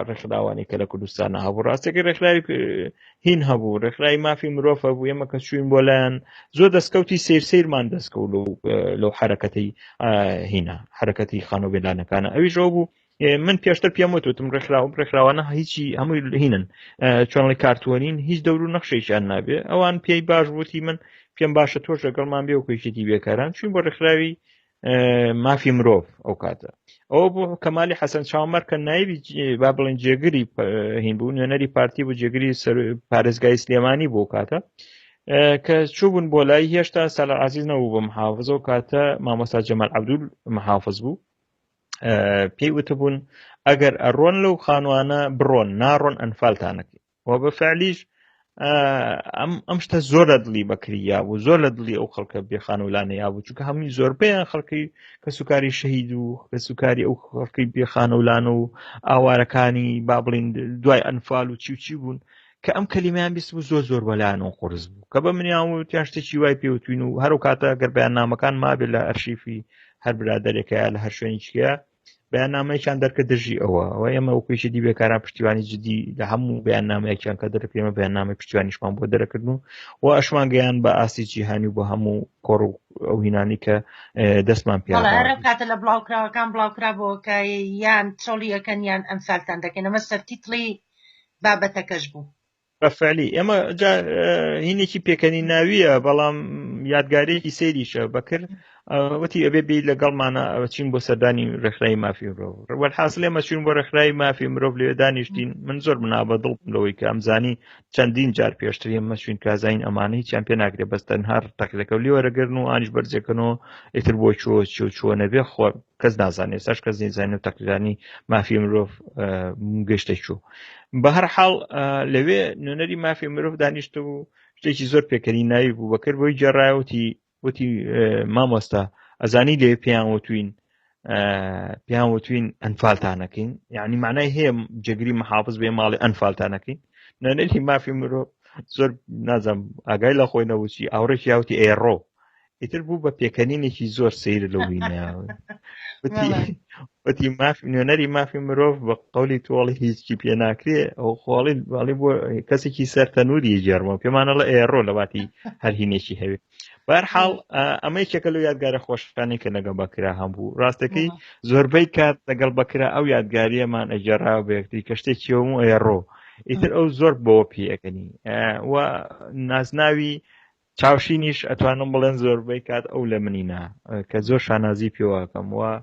ڕێکخراوانی کە لە کوردستانە هەبوو ڕاستێکی ڕێکخراوی هین هەبوو ڕێکخراوی مافی مرۆڤ هەبوو ئێمە کە چوین بۆ لایەن زۆر دەستکەوتی سیر سیرمان دەستکەوت لەو حرەکەتی هینا حرەکەتی خانۆ بێلانەکانە ئەویش ئەو بوو من پێشتر پێم وتوتم ڕێکخراوم ڕێکخراوانە هیچی هەمووی هینن چۆنڵی کارتوەنین هیچ دەور و نەخشێکیان نابێ ئەوان پێی باش وتی من پێم باشە تۆش لەگەڵمان بێ وکوێکێتی بێکاران چوین بۆ ڕێکخراوی مافی مرۆڤ ئەو کاتە ئەو بۆ کەمالی حەسەن چاومەر کە نایبی با بڵێن جێگری هین بوو نوێنەری پارتی بۆ جێگری پارێزگای سلێمانی بۆ کاتە کە چوبوون بۆ لای هێشتا سەلا عزیز نەبوو بە محافظ و کاتە مامۆستا جەمال عبدول محافظ بوو پێی وتبوون ئەگەر ئەڕۆن لەو خانوانە بڕۆن ناڕۆن ئەنفالتانەکە و بە فعلیش ئەم ئەم شتە زۆر لە دڵی بەکری یا بوو زۆر لە دڵی ئەو خەڵکە بێخان و لانە یا بوو چونکە هەمووی زۆربەیان خەڵکی کەسوکاری شەهید و کەسوکاری ئەو خەڵکی بێخانە و لانە و ئاوارەکانی با بڵین دوای ئەنفال و چی و چی بوون کە ئەم کەلیمیان بیست بوو زۆر زۆر بەلایەن و قرس بوو کە بە منیان و تیان شتێکی وای پێوتوین و هەرو کاتە گەر بەیان نامەکان مابێت لە ئەرشیفی هەر برادێکە لە هەر شوێنیچکە بەیاننامەیەکیان دەرکە دژی ئەوە و ئێمە وکویشە دی بێکاران پشتیوانی جدی لە هەموو بەیاننامەیەکیان کە دەرکرێمە بەیاننامە پشتیوانیشمان بۆ دەرەکردن و و ئەشمان گەیان بە ئاستی جیهانی بۆ هەموو کۆڕ و ئەو هینانی کە دەستمان پێ کاتە لە بڵاوکراوەکان بڵاوکرا بۆکە یان چۆڵیەکەن یان ئەمسالتان دەکەن ئەمە سەرتیتڵی بابەتەکەش بوو بەفعلی ئێمە جا هینێکی پێکەنی ناویە بەڵام یادگارێکی سەیریشە بەکر وتی ئەبێ بی لەگەڵمانە ئەوچین بۆ سەردانی ڕێکخرای مافی مرۆڤ ڕوەل حاصل ئێمە چوین بۆ ڕێکخرای مافی مرۆڤ لێ دانیشتین من زۆر منا بە دڵ لەوەی کە ئەمزانی چەندین جار پێشتر ئێمە چوین کازین ئەمانەی چیان پێ ناکرێت بەس تەنها تەقلەکە لێوەرەگرن و ئانیش بەرزەکەنەوە ئیتر بۆ چۆ چۆ چۆ نەبێ خۆ کەس نازانێت ساش کەس نیزانانی و تەقدیرانی مافی مرۆڤ گەشتە چوو بە هەر حاڵ لەوێ نوێنەری مافی مرۆڤ دانیشت و شتێکی زۆر پێکەری ناوی بوو بەکرد بۆی جێڕایوتی وتی مامۆستا ئەزانی لێ پێیان وتوین پێیان وتوین ئەنفالتانەکەین یعنی معنای هەیە جگری محافظ بێ ماڵی ئەنفالتانەکەین نوێنەری مافی مرۆڤ زۆر نازم ئاگای لە خۆی نەوچی ئاوڕێکی یاوتی ئێڕۆ ئیتر بوو بە پێکەنینێکی زۆر سیر لە وینە وتی ماف نوێنەری مافی مرۆڤ بە قولی تۆڵی هیچی پێ ناکرێ ئەو خۆڵی باڵی بۆ کەسێکی سەر تەنووری جێرمە پێمانە لە ئێڕۆ لە باتی هەرهینێکی هەوێ بارحاڵ ئەمە یەکێکە لە یادگارە خۆشەکانی کە لەگە بەکرا هەمبوو ڕاستەکەی زۆربەی کات لەگەڵ بەکرا ئەو یادگاریەمان ئەجێرا بەکتری کە شتێکی و ئێڕۆ ئیتر ئەو زۆر بەوە پێەکەنی و نازناوی چاوشینیش ئەتوانم بڵێن زۆربەی کات ئەو لە منی نا کە زۆر شانازی پێواکەم وە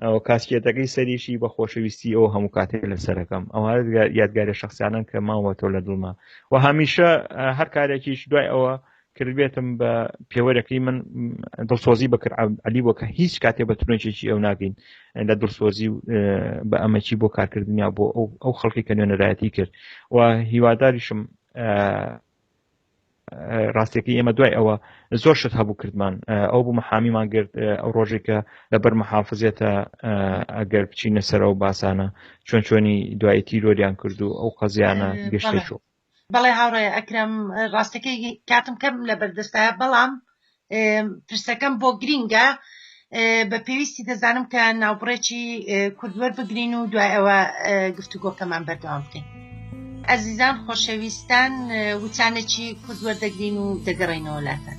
ئەو کاسکێتەکەی سەریشی بە خۆشەویستی ئەو هەموو کاتێک لە سەرەکەم ئەو یادگارە شخصیانن کە ماوە تۆ لە دڵما و هەمیشە هەر کارێکیش دوای ئەوە کردبێتم بە پێوەرەکەی من دڵسۆزی بەکرد علی بۆ کە هیچ کاتێ بە ترۆنچێکی ئەو ناگەین لە دڵسۆزی و بە ئەمەکی بۆ کارکردنیا بۆ ئەو خەڵکی کە نوێنەرایەتی کرد و هیواداریشم ڕاستەکەی ئێمە دوای ئەوە زۆر شت هەبوو کردمان ئەو بوو محامیمان گرت ئەو ڕۆژێک کە لەبەر محافزێتە ئەگەر بچینە سەرەوە باسانە چۆن چۆنی دوای تیرۆریان کرد و ئەو قەزیانە گەشتێک بەڵێ هاوڕێ ئەکرم ڕاستەکەی کاتم کەم لە بەردەستایە بەڵام پرسەکەم بۆ گرینگە بە پێویستی دەزانم کە ناوبڕێکی کوردوەر بگرین و دوای ئەوە گفتوگۆکەمان بەردەوام بکەین ئەزیزان خۆشەویستان وچانێکی کوردوەر دەگرین و دەگەڕینەوە لاتان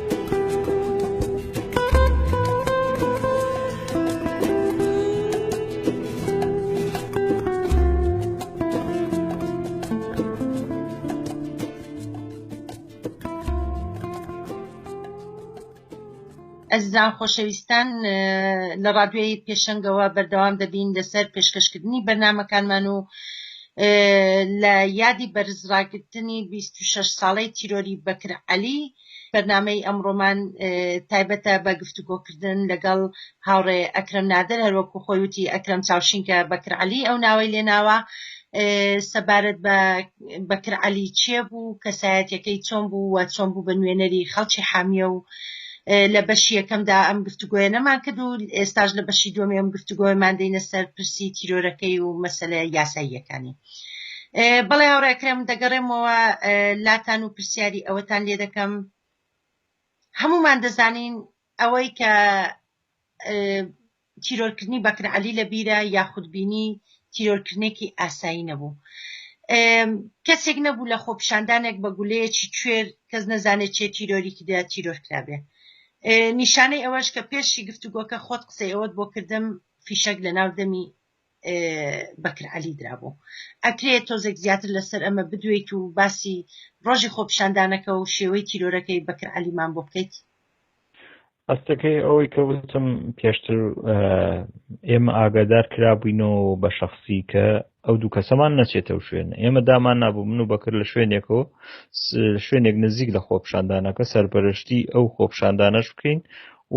ئەزیزان خۆشەویستان لە ڕادوێی پێشنگەوە بەردەوام دەبین لەسەر پێشکەشکردنی بەرنمەکانمان و لە یادی بەرزڕاگرتنی 26 ساڵەی تیرۆری بەکر عەلی بەرنامەی ئەمڕۆمان تایبەتە بە گفتوگۆکردن لەگەڵ هاوڕێ ئەکرم نادر هەروەکو خۆی وتی ئەکرم چاوشینکە بەکر علی ئەو ناوەی لێناوە سەبارەت بە بەکر علی چێ بوو کەسایەتەکەی چۆن بوو و چۆن بوو بە نوێنەری خەڵکی حامیە و لە بەشی یەکەمدا ئەم گفتوگوۆیە نەمان کرد و ئێستاش لە بەشی دومی ئەم گفتوگۆیمان دەینە سەر پرسی تیرۆرەکەی و مەسلە یاساییەکانی بەڵێ هاوڕێکرم دەگەڕێمەوە لاتان و پرسیاری ئەوەتان لێ دەکەم هەمومان دەزانین ئەوەی کە تیرۆرکردنی بەکر علی لە بیرە یاخودبینی تیرۆرکردنێکی ئاسایی نەبوو کەسێک نەبوو لە خۆپشاندانێک بە گولەیەکی کوێر کەس نەزانێت چێ تیرۆریکی دا تیرۆر کرابێ نیشانەی ئەوەش کە پێشی گفتوگۆکە خۆت قسەی ئەوەت بۆ کردم فیشەک لە ناو دەمی بەکر عەلی درابوو ئەکرێت تۆزێک زیاتر لەسەر ئەمە بدوێیت و باسی ڕۆژی خۆپیشاندانەکە و شێوەی تیرۆرەکەی بەکر عەلیمان بۆ بکەیت ئەستەکەی ئەوەی کە وتم پێشتر ئێمە ئاگادار کرابووینەوە بە شخصی کە ئەو دوو کەسەمان نەچێتە شوێن ئێمە دامان نبوو من و بەکر لە شوێنێکەوە شوێنێک نزیک لە خۆپشاندانەکە سەرپەرشتی ئەو خۆپشاندانەش بکەین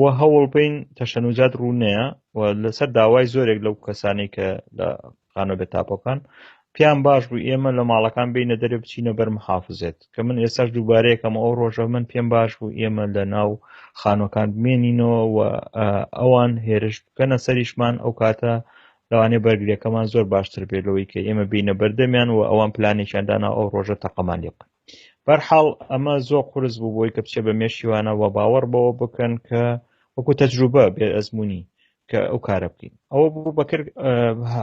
و هەوڵ بین تەشەنوجات ڕوونەیە و لەسەر داوای زۆرێک لەو کەسانی کە لە خانۆ بێ تاپۆکان پیان باش بوو ئێمە لە ماڵەکان بینە دەرێ بچینە بەر محافزێت کە من ئێساش دووبارەیەکەم ئەو ڕۆژە من پێم باش بوو ئێمە لە ناو خانۆکان بمێنینەوە و ئەوان هێرش بکەنە سەریشمان ئەو کاتە لەوانێ بەرگریەکەمان زۆر باشتر بێت لەوەی کە ئێمە بینە بەردەمیان و ئەوان پلانێکیان دانا ئەو ڕۆژە تەقەمان لێ بکەن بەرحاڵ ئەمە زۆر قرس بوو بۆی کە بچێ بە مێشیوانە و باوەڕ بەوە بکەن کە وەکو تەجروبە بێ ئەزمموی کە ئەو کارە بکەین ئەوە بوو بەکرد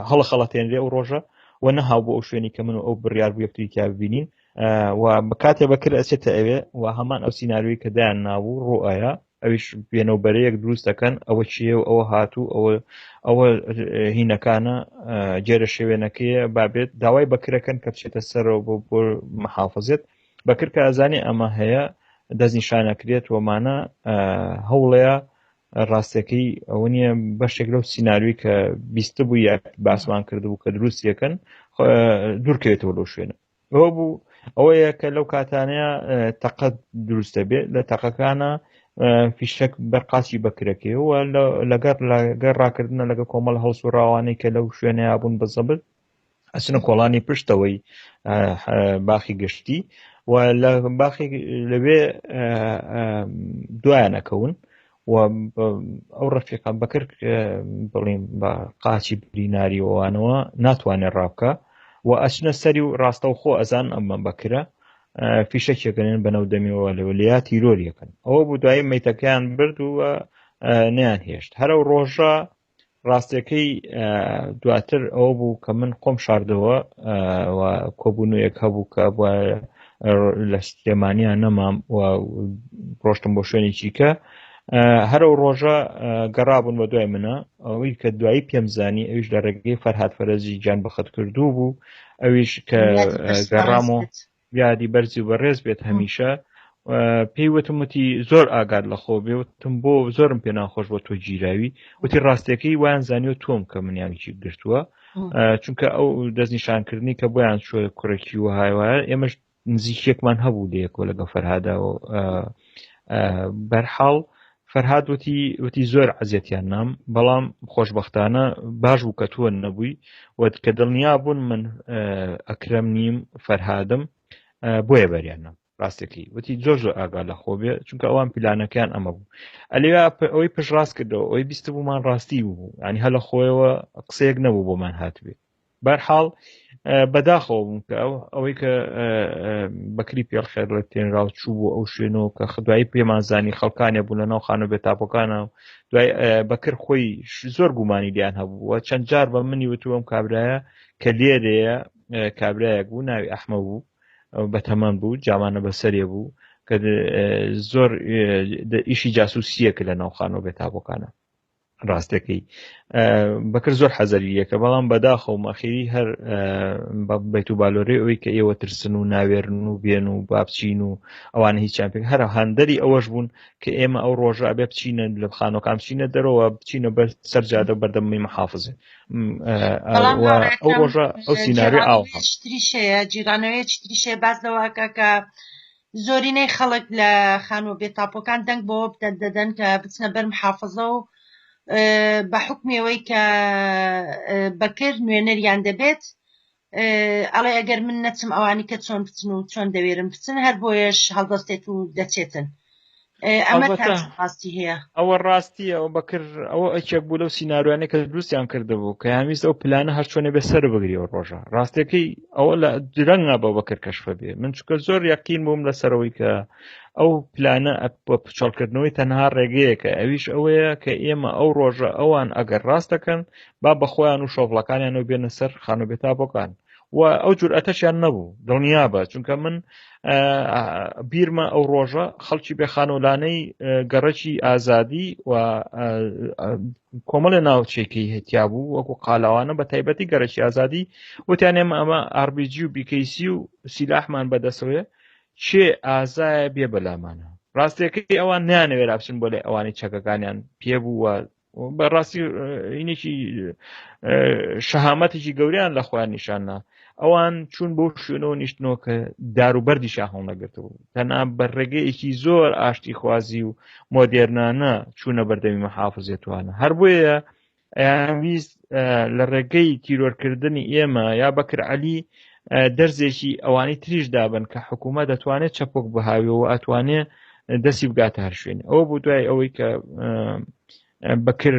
هەڵە خەڵەتێنرێ ئەو ڕۆژە و نەهاو بۆ ئەو شوێنی کە من و ئەو بڕیار بوو یەکتری تیا ببینین و بە کاتێ بەکر ئەچێتە ئەوێ و هەمان ئەو سینناروی کە دایان نابوو ڕۆئایا ئەویش بێنە و بەرەیەک دروست دەکەن ئەوە چیە و ئەوە هاتوو ئەوە ئەوە هینەکانە جێرە شێوێنەکەیە بابێت داوای بەکرەکەن کە بچێتە سەرەوە بۆ بۆ محافظێت بەکرکە ئازانی ئەمە هەیە دەستنیشانەکرێت وەمانە هەوڵەیە ڕاستەکەی ئەوە نیە بەشێک لەو سینناروی کە بیستە بوو یا باسمان کردبوو کە دروستیەکەن دوورکەوێتەوە لەو شوێنە ئەوە بوو ئەوەیە کە لەو کاتانەیە تەقە دروست دەبێت لە تەقەکانە فیشەک بەرقاچی بەکرەکەی و لەگەر لەگەر ڕاکردنە لەگە کۆمەڵ هەڵس و ڕاوانەی کە لەو شوێنەیە بوون بە زەبت ئەچنە کۆڵانی پشتەوەی باخی گشتی و لە باخی لەوێ دوایانەکەون و ئەو ڕەفیقە بەکر بڵیم بە قاچی بریناری وانەوە ناتوانێت ڕابکە و ئەچنە سەری و ڕاستە و خۆ ئەزان ئەمە بەکرە فیشەکێکەێن بەنەو دەمیەوە لەوە لیا تیرۆریەکەن ئەوە بوو دوایی میتەکەیان برد و نیان هێشت هەرو ڕۆژە ڕاستەکەی دواتر ئەوە بوو کە من خۆم شاردەوە کۆبوونەوەیەک هەبوو کە بووە لە سلێمانیا نەمام و ڕۆشتم بۆ شوێنێکی کە هەرو ڕۆژە گەڕابوون بە دوای منە ئەوەی کە دوایی پێم زانی ئەوش لە ڕێگەی فەرهاات فەرەزی گیان بەخت کردو بوو ئەویش کە گەڕام و یادی بەرزی و بەڕێز بێت هەمیشە پێی وتم وتی زۆر ئاگات لە خۆ بێ وتم بۆ زۆرم پێ ناخۆش بۆ تۆ گیراوی وتی ڕاستەکەی وان زانیۆ تۆم کە منیانکی گرتووە چونکە ئەو دەستنیشانکردنی کە بۆیان شۆ کوڕێکی و هاوایە ئێمەش نزیکێکمان هەبوو لەیەکۆ لەگە فەرهاداەوە بەرحاڵ فەرهاد وتی وتی زۆر عەزیەتیان نام بەڵام خۆشببختانە باش بوو کە تۆ نەبووی و کە دڵنیا بوون من ئەکرم نیم فەرهادم بۆیە بەریان نام ڕاستەکەی وتی زۆر زۆر ئاگا لە خۆ بێ چونکە ئەوان پیلانەکەیان ئەمە بوو ئەلیا ئەوەی پشت ڕاست کردەوە ئەوەی بیست بوومان ڕاستی بوو ینی هەلە خۆیەوە قسەیەک نەبوو بۆمان هاتبێت بەرحاڵ بەداخەوە بووم کە ئەو ئەوەی کە بەکری پێڵ خێر لە تێنراو چوو بۆ ئەو شوێنەوە کە خدوایی پێمانزانی خەڵکانێ بوو لە ناو خانە بێتاپەکانە و دوای بەکر خۆی زۆر گومانی دیان هەبووە چەند جار بە منی وتووەم کابراە کە لێرەیە کابراەک بوو ناوی ئەحمە بوو بە تەمان بوو جامانە بەسەرێ بوو کە زۆر ئیشی جاسوسیەک لە ناوخانەوە بێتابەکانە ڕاستەکەی بەکر زۆر حەزەری یەکە بەڵام بەداخە و مەخیری هەر بە بێت و بالۆرەی ئەوی کە ئێوە ترسن و ناوێرن و بێن و بابچین و ئەوانە هیچیان پێک هەر هەندەری ئەوەش بوون کە ئێمە ئەو ڕۆژە ئەبێ بچینە لە خانۆکان بچینە دەرەوە بچینە بەر سەرجادە بەردەمی محافزێ ئەو ڕۆژە ئەو سینناێ ئاوتریشەیە جیرانەوەی چتریشێ باز لەوەکە کە زۆرینەی خەڵک لە خانووە بێتاپۆکان دەنگ بەوە بدەن دەدەن کە بچنە بەر محافظە و بە حکمەوەی کە بەکر نوێنەریان دەبێت ئەڵێ ئەگەر من نەچم ئەوانی کە چۆن بچن و چۆن دەوێرم بچن هەر بۆیەش هەڵدەستێت و دەچێتن ئەوە ڕاستیە ئەو بەکر ئەوە ئەکێک بوو لەو سینناروانە کە دروستیان کردبوو کە هەمیست ئەو پلانە هەر چۆنێ بێ سەر بگری و ڕۆژە ڕاستەکەی ئەوە لە درەنگە بە بەکر کەشفە بێ من چکە زۆر یەقین بووم لەسەرەوەی کە ئەو پلانە بە پچەڵکردنەوەی تەنها ڕێگەیەکە ئەویش ئەوەیە کە ئێمە ئەو ڕۆژە ئەوان ئەگەر ڕاستەکەن با بەخۆیان و شۆڤڵەکانیان و بێنە سەر خانوبێتابەکان و ئەو جورئەتەشیان نەبوو دڵنیابە چونکە من بیرمە ئەو ڕۆژە خەڵکی بێخانۆلانەی گەڕەکی ئازادی و کۆمەڵە ناوچێکی هەتیا بوو وەکو قالاوانە بە تایبەتی گەرەکی ئازادی وتیان ئێمە ئەمە ئاربیG و بیکەیسی و سیلاحمان بەدەسەوەێ چێ ئازایە بێ بەلامانە ڕاستەکەی ئەوان نیانەوێرا بچن بۆ لە ئەوانی چەکەکانیان پێ بوو و بەڕاستی اینێکی شەهامەتێکی گەوریان لە خۆیان نیشاننا ئەوان چون بۆ شوێنەوە نیشتنەوە کە داروبەردی شاهڵ نەگرتەوە تەنا بە ڕێگەیەکی زۆر ئاشتی خوازی و مۆدێرنانە چوونە بەردەمی مەحافزێتوانە هەر بۆیە ئەیان ویست لە ڕێگەی تیرۆرکردنی ئێمە یا بەکر عەلی دەرزێکی ئەوانی تریش دابن کە حکوومەت دەتوانێت چەپۆک بهاوێەوە ئەتوانێ دەستی بگاتە هەر شوێن ئەوە بۆ دوای ئەوەی کە بەکر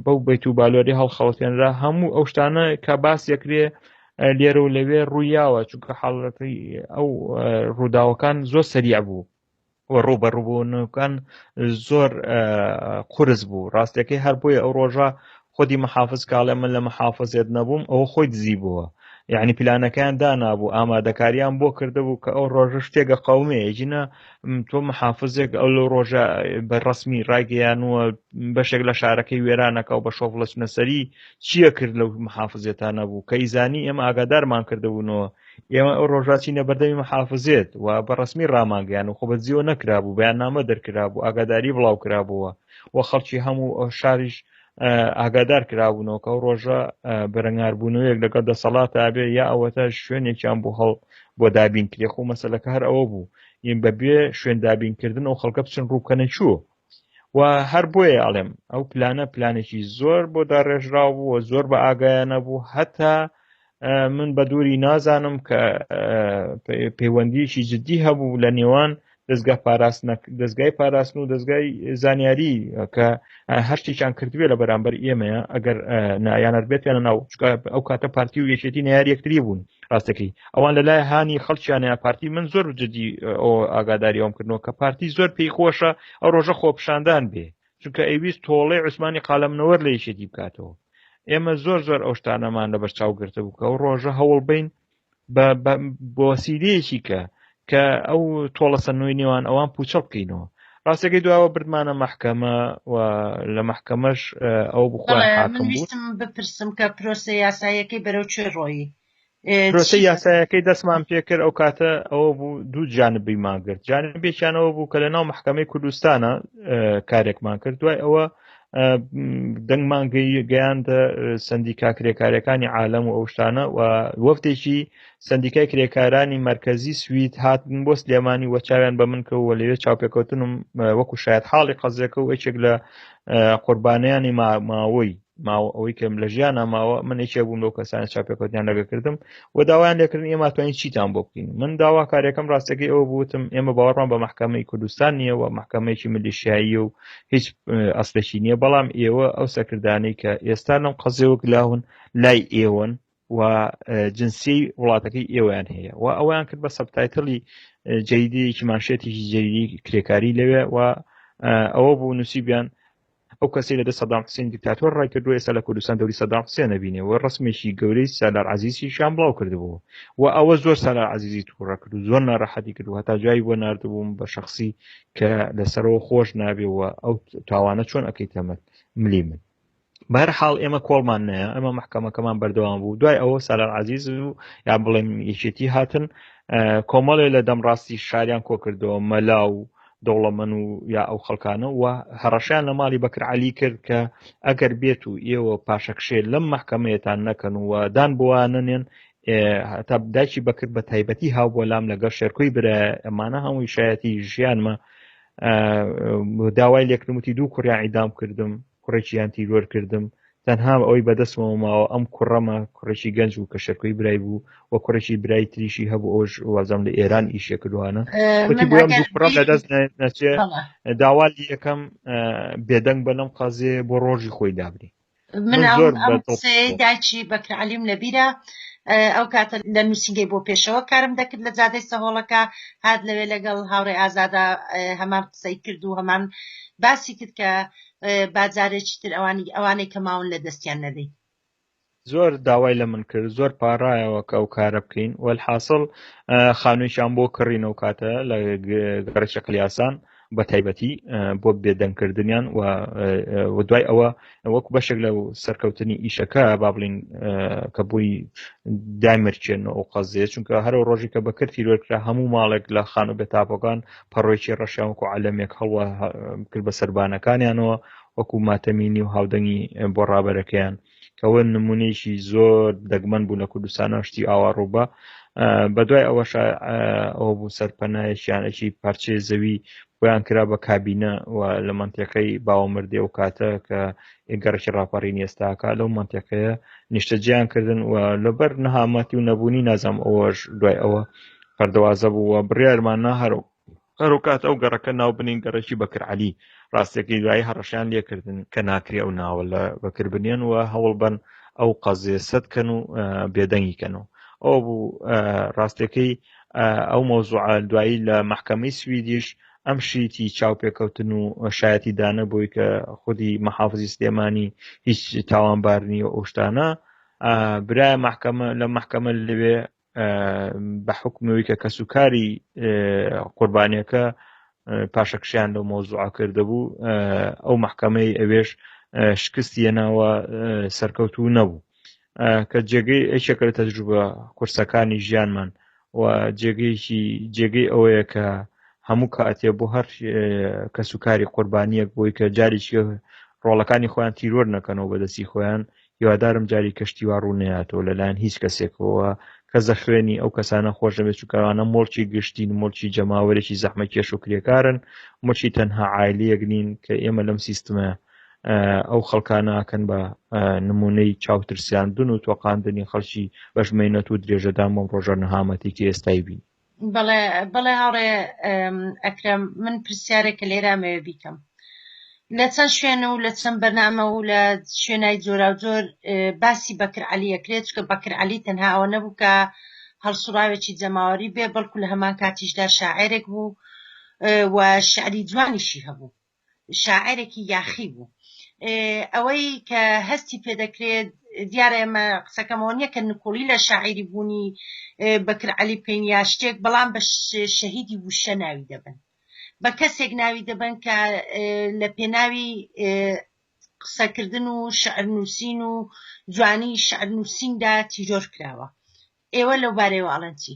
بەو بیت و بالۆری هەڵخەڵەتێنرا هەموو ئەو شتانە کە باس یەکرێ لێرە و لەوێ ڕوویاوە چونکە حاڵەتی ئەو ڕووداوەکان زۆر سەریع بوو ڕووبەڕووبوونەکان زۆر قرس بوو ڕاستەکەی هەر بۆیە ئەو ڕۆژە خودی محافز کاڵێ من لە محافزێت نەبووم ئەوە خۆی دزی بووە یعنی پلانەکەیان دانابوو ئامادەکاریان بۆ کردبوو کە ئەو ڕۆژە شتێکە قومێ ژنە تۆ محافزێک ئەو لە ڕۆژە بە ڕسمی ڕایگەیان وە بەشێک لە شارەکەی وێرانەکە و بە شۆفڵچنەسەری چییە کرد لەو محافزێتانە بوو کە ئیزانی ئێمە ئاگادارمان کردبوونەوە ئێمە ئەو ڕۆژاچینە بەردەمی محافزێت و بە ڕسمی ڕامانگەیان و خۆ بەجیەوە نەکرابوو بەیان نامە دەرکرابوو ئاگاداری بڵاو کرابووە و خەڵکی هەموو شاریش ئاگادار کرابوونەوە کە ئەو ڕۆژە بەرەنگاربوونەوەیەک لەگەڵ دەسەڵات ئابێ یا ئەوەتا شوێنێکیان بۆ هەڵ بۆ دابین کرێخ و مەسلەکە هەر ئەوە بوو ئیم بەبێ شوێن دابینکردن و خەڵکە بچن ڕووکەنە چوو و هەر بۆیە ئەڵێم ئەو پلانە پلانێکی زۆر بۆ داڕێژراو بووە زۆر بە ئاگایانە بوو هەتا من بە دووری نازانم کە پەیوەندیکی جددی هەبوو لە نێوان دەستگا پاراستن دەستگای پاراستن و دەستگای زانیاری کە هەشتێکیان کردوێ لە بەرامبەر ئێمەیە ئەگەر نایانەر بێتێنە ناو ئەو کاتە پارتی و یەکێتی ناری یەکتری بوون ڕاستەکەی ئەوان لە لای هاانی خەڵکییانە پارتی من زۆر جدی ئەو ئاگاداری ئەوم کردنەوە کە پارتی زۆر پێی خۆشە ئەو ڕۆژە خۆپشاندان بێ چونکە ئەویست تۆڵی عوسمانی قالەمنەوەر لە یشێتی بکاتەوە ئێمە زۆر زۆر ئەو شتانەمان لە بەرچاو گرتە بوو کە ئەو ڕۆژە هەوڵ بین بۆسیرەیەکی کە کە ئەو تۆڵە سەنووی نێوان ئەوان پوچەڵ بکەینەوە ڕاستەکەی دواوە بردمانە محکەمە و لە محکەمەش ئەو بخۆ بپرسم کە پرۆسە یاسایەکەی بەرەو چێ ڕۆیی پرۆسە یاسایەکەی دەستمان پێکرد ئەو کاتە ئەوە بوو دوو جانبی ماگررت جانبێکیانەوە بوو کە لە ناو محکمەی کوردستانە کارێکمان کرد دوای ئەوە دەنگمان گەیاندە سندیکا کرێکارەکانی عالم و ئەوشتانە و وەفتێکی سندیکای کرێکارانی مرکزی سوید هاتن بۆ سلێمانی وە چاویان بە من کەەوە لەوێ چاوپێکەوتنم وەکو شاید حاڵی قەزەکە و یەکێک لە قوربانیانی ماماوەی ماوە ئەوەی کەم لە ژیانە ماوە من یەکێ بووم لەو کەسانە چاپێکوتیان لەگە کردم و داوایان لەکردن ئێمە توانین چیتان بۆ بکەین من داوا کارێکم ڕاستەکەی ئەوە بوتم ئێمە باوەڕمان بە محکمەی کوردستان نییە و محکمەیەکی ملیشایی و هیچ ئەسلێکی نییە بەڵام ئێوە ئەو سەکردانەی کە ئێستا لەم قەزێوەک لاون لای ئێوەن و جنسی وڵاتەکەی ئێوەیان هەیە و ئەویان کرد بە سەبتایتڵی جەیدەیەکی ماشێتێکی جەیدی کرێکاری لەوێ و ئەوە بوو نووسیبیان ئەو کەسی لە دە سەدام حسین دیکتاتۆر ڕای کردو ئێستا لە کوردستان دەوری سەدام حسێن نبینێ و ڕسمێکی گەورەی سالار عزیزی شان بڵاو کردبوو و ئەوە زۆر سالار عزیزی تووڕە کرد و زۆر ناڕەحەتی کرد و هەتا جایی بۆ نردبووم بە شخصی کە لەسەرەوە خۆش نابێ و ئەو تاوانە چۆن ئەەکەی تەمەت ملی من بەر حاڵ ئێمە کۆڵمان نەیە ئەمە محکەمەکەمان بەردەوام بوو دوای ئەوە سالار عزیز و یا بڵێم یەکێتی هاتن کۆمەڵێ لە دەم ڕاستی شاریان کۆکردەوە مەلا و دەوڵەمەن و یا ئەو خەڵکانە و هەڕەشیان لە ماڵی بەکر علی کرد کە ئەگەر بێت و ئێوە پاشەکشێ لەم محکەمەیەتان نەکەن و دان بوانە نێن هەتا دایکی بەکرد بە تایبەتی هاو بۆ لام لەگەڵ شێرکۆی برە ئەمانە هەمووی شایەتی ژیانمە داوای لێکرمتی دوو کوڕیان ئیدام کردم کوڕێکیان تیرۆر کردم تەنها ئەوەی بەدەستمەوە ماوە ئەم کوڕەمە کوڕێکی گەنج بوو کە شەکۆی برای بوو و کوڕێکی برای تریشی هەبوو ئەوش وازم لە ئێران ئیشێ کردوانە لەدەست نەچێ داوا یەکەم بێدەنگ بە لەم قازێ بۆ ڕۆژی خۆی دابنی من داچی بەکرعلیم لەبیرە ئەو کاتە لە نووسینگەی بۆ پێشەوە کارم دەکرد لە جادەی سەهۆڵەکە هاات لەوێ لەگەڵ هاوڕێ ئازادا هەمان قسەی کرد و هەمان باسی کرد کە باجارێکی تر ئەوانی ئەوانەی کە ماون لە دەستیان نەدەیت زۆر داوای لە من کرد زۆر پاڕایەوە کە ئەو کارە بکەین وەحاصل خانوویان بۆ کڕینەوە کاتە لە گەڕی شەکل یاسان بە تایبەتی بۆ بێدەنگکردنیان و دوای ئەوە وەکو بەشێک لە سەرکەوتنی ئیشەکە با بڵین کە بووی دامرچێن و قەزیێت چونکە هەرو ڕۆژی کە بەکرد تیرۆرکرا هەموو ماڵێک لە خان و بێتاپۆکان پەڕۆیەکی ڕەشیان وەکو عەلەمێک هەڵوا کرد بە سەربانەکانیانەوە وەکو ماتەمینی و هاودەنگی بۆ ڕابەرەکەیان کەەوە نمونەیەکی زۆر دەگمەن بوو لە کوردستانە شتی ئاوا ڕووبە بە دوای ئەوەش ئەوە بوو سەرپەنایەکیان ئەکی پارچەی زەوی بۆیان کرا بە کابینە و لە منتەکەی باوەمردێ و کاتە کە گەڕکی ڕاپەڕین ئێستاکە لەو منتەکەیە نیشتەجیان کردن و لەبەر نەهامەتی و نەبوونی نازام ئەوەش دوای ئەوە پەردەوازە بوو و بڕیارمان نا هەرو هەروکات ئەو گەڕەکە ناو بنین گەڕەکی بەکر عەلی ڕاستەکەی دوایی هەڕەشەیان لێ کردن کە ناکرێ ئەو ناوە لە بەکر بنێن و هەوڵ بەن ئەو قەزێ سەد کەن و بێدەنگی کەن و ئەو بوو ڕاستەکەی ئەو مەوزوعە دوایی لە محکەمەی سویدیش ئەم شیتی چاوپێکەوتن و شایەتی دانە بووی کە خودی محافزی سلێمانی هیچ تاوانبار نیە ئەو شتانە برای محکمە لە محکمە لەوێ بە حکومەوەی کە کەس و کاری قوربانیەکە پاشەکشیان لەو مۆزوع کردبوو ئەو محکمەی ئەوێش شکستی ناوە سەرکەوت و نەبوو کە جێگەی ئەیشەکە لە تەجروبە قورسەکانی ژیانمان و جێگەیەکی جێگەی ئەوەیە کە هەموو کاتێ بۆ هەر کەس و کاری قوربانیەک بۆی کە جاریشی ڕۆڵەکانی خۆیان تیرۆر نەکەنەوە بەدەستی خۆیان هیوادارم جاری کەشتی وا ڕوو نەیاتەوە لەلایەن هیچ کەسێکەوە کەس دە خوێنی ئەو کەسانە خۆش نەبێت چووکەوانە مڵکی گشتین مڵکی جەماوەرێکی زەحمە کێش و کرێکارن ملکی تەنها عیلیەک نین کە ئێمە لەم سیستمە ئەو خەڵکانەکەن بە نمونەی چاوترسیاندن و تۆقااندنی خەڵکی بەشمەینەت و درێژەدان بۆم ڕۆژە نەهامەتێکی ئێستای بینی بەڵێ بەڵێ هاوڕێ ئەکرەم من پرسیارێک کە لێرا مەوێ بیکەم لە چەند شوێن و لە چەند بەرنامە و لە شوێنای جۆرا و جۆر باسی بەکر علی ئەکرێت چکە بەکر علی تەنها ئەوە نەبوو کە هەڵسوڕاوێکی جەماوەری بێ بەڵکو لە هەمان کاتیشدا شاعێرێک بوو و شعری جوانیشی هەبوو شاعیرێکی یاخی بوو ئەوەی کە هەستی پێدەکرێت دیارە ئێمە قسەکەمەوە نییە کە نکۆڵی لە شاعیری بوونی بەکر علی بکەین یا شتێک بەڵام بە شەهیدی وشە ناوی دەبن بە کەسێک ناوی دەبن کە لە پێناوی قسەکردن و شعر نووسین و جوانی شعر نووسیندا تیرۆر کراوە ئێوە لەو بارەیەوە ئاڵەنچی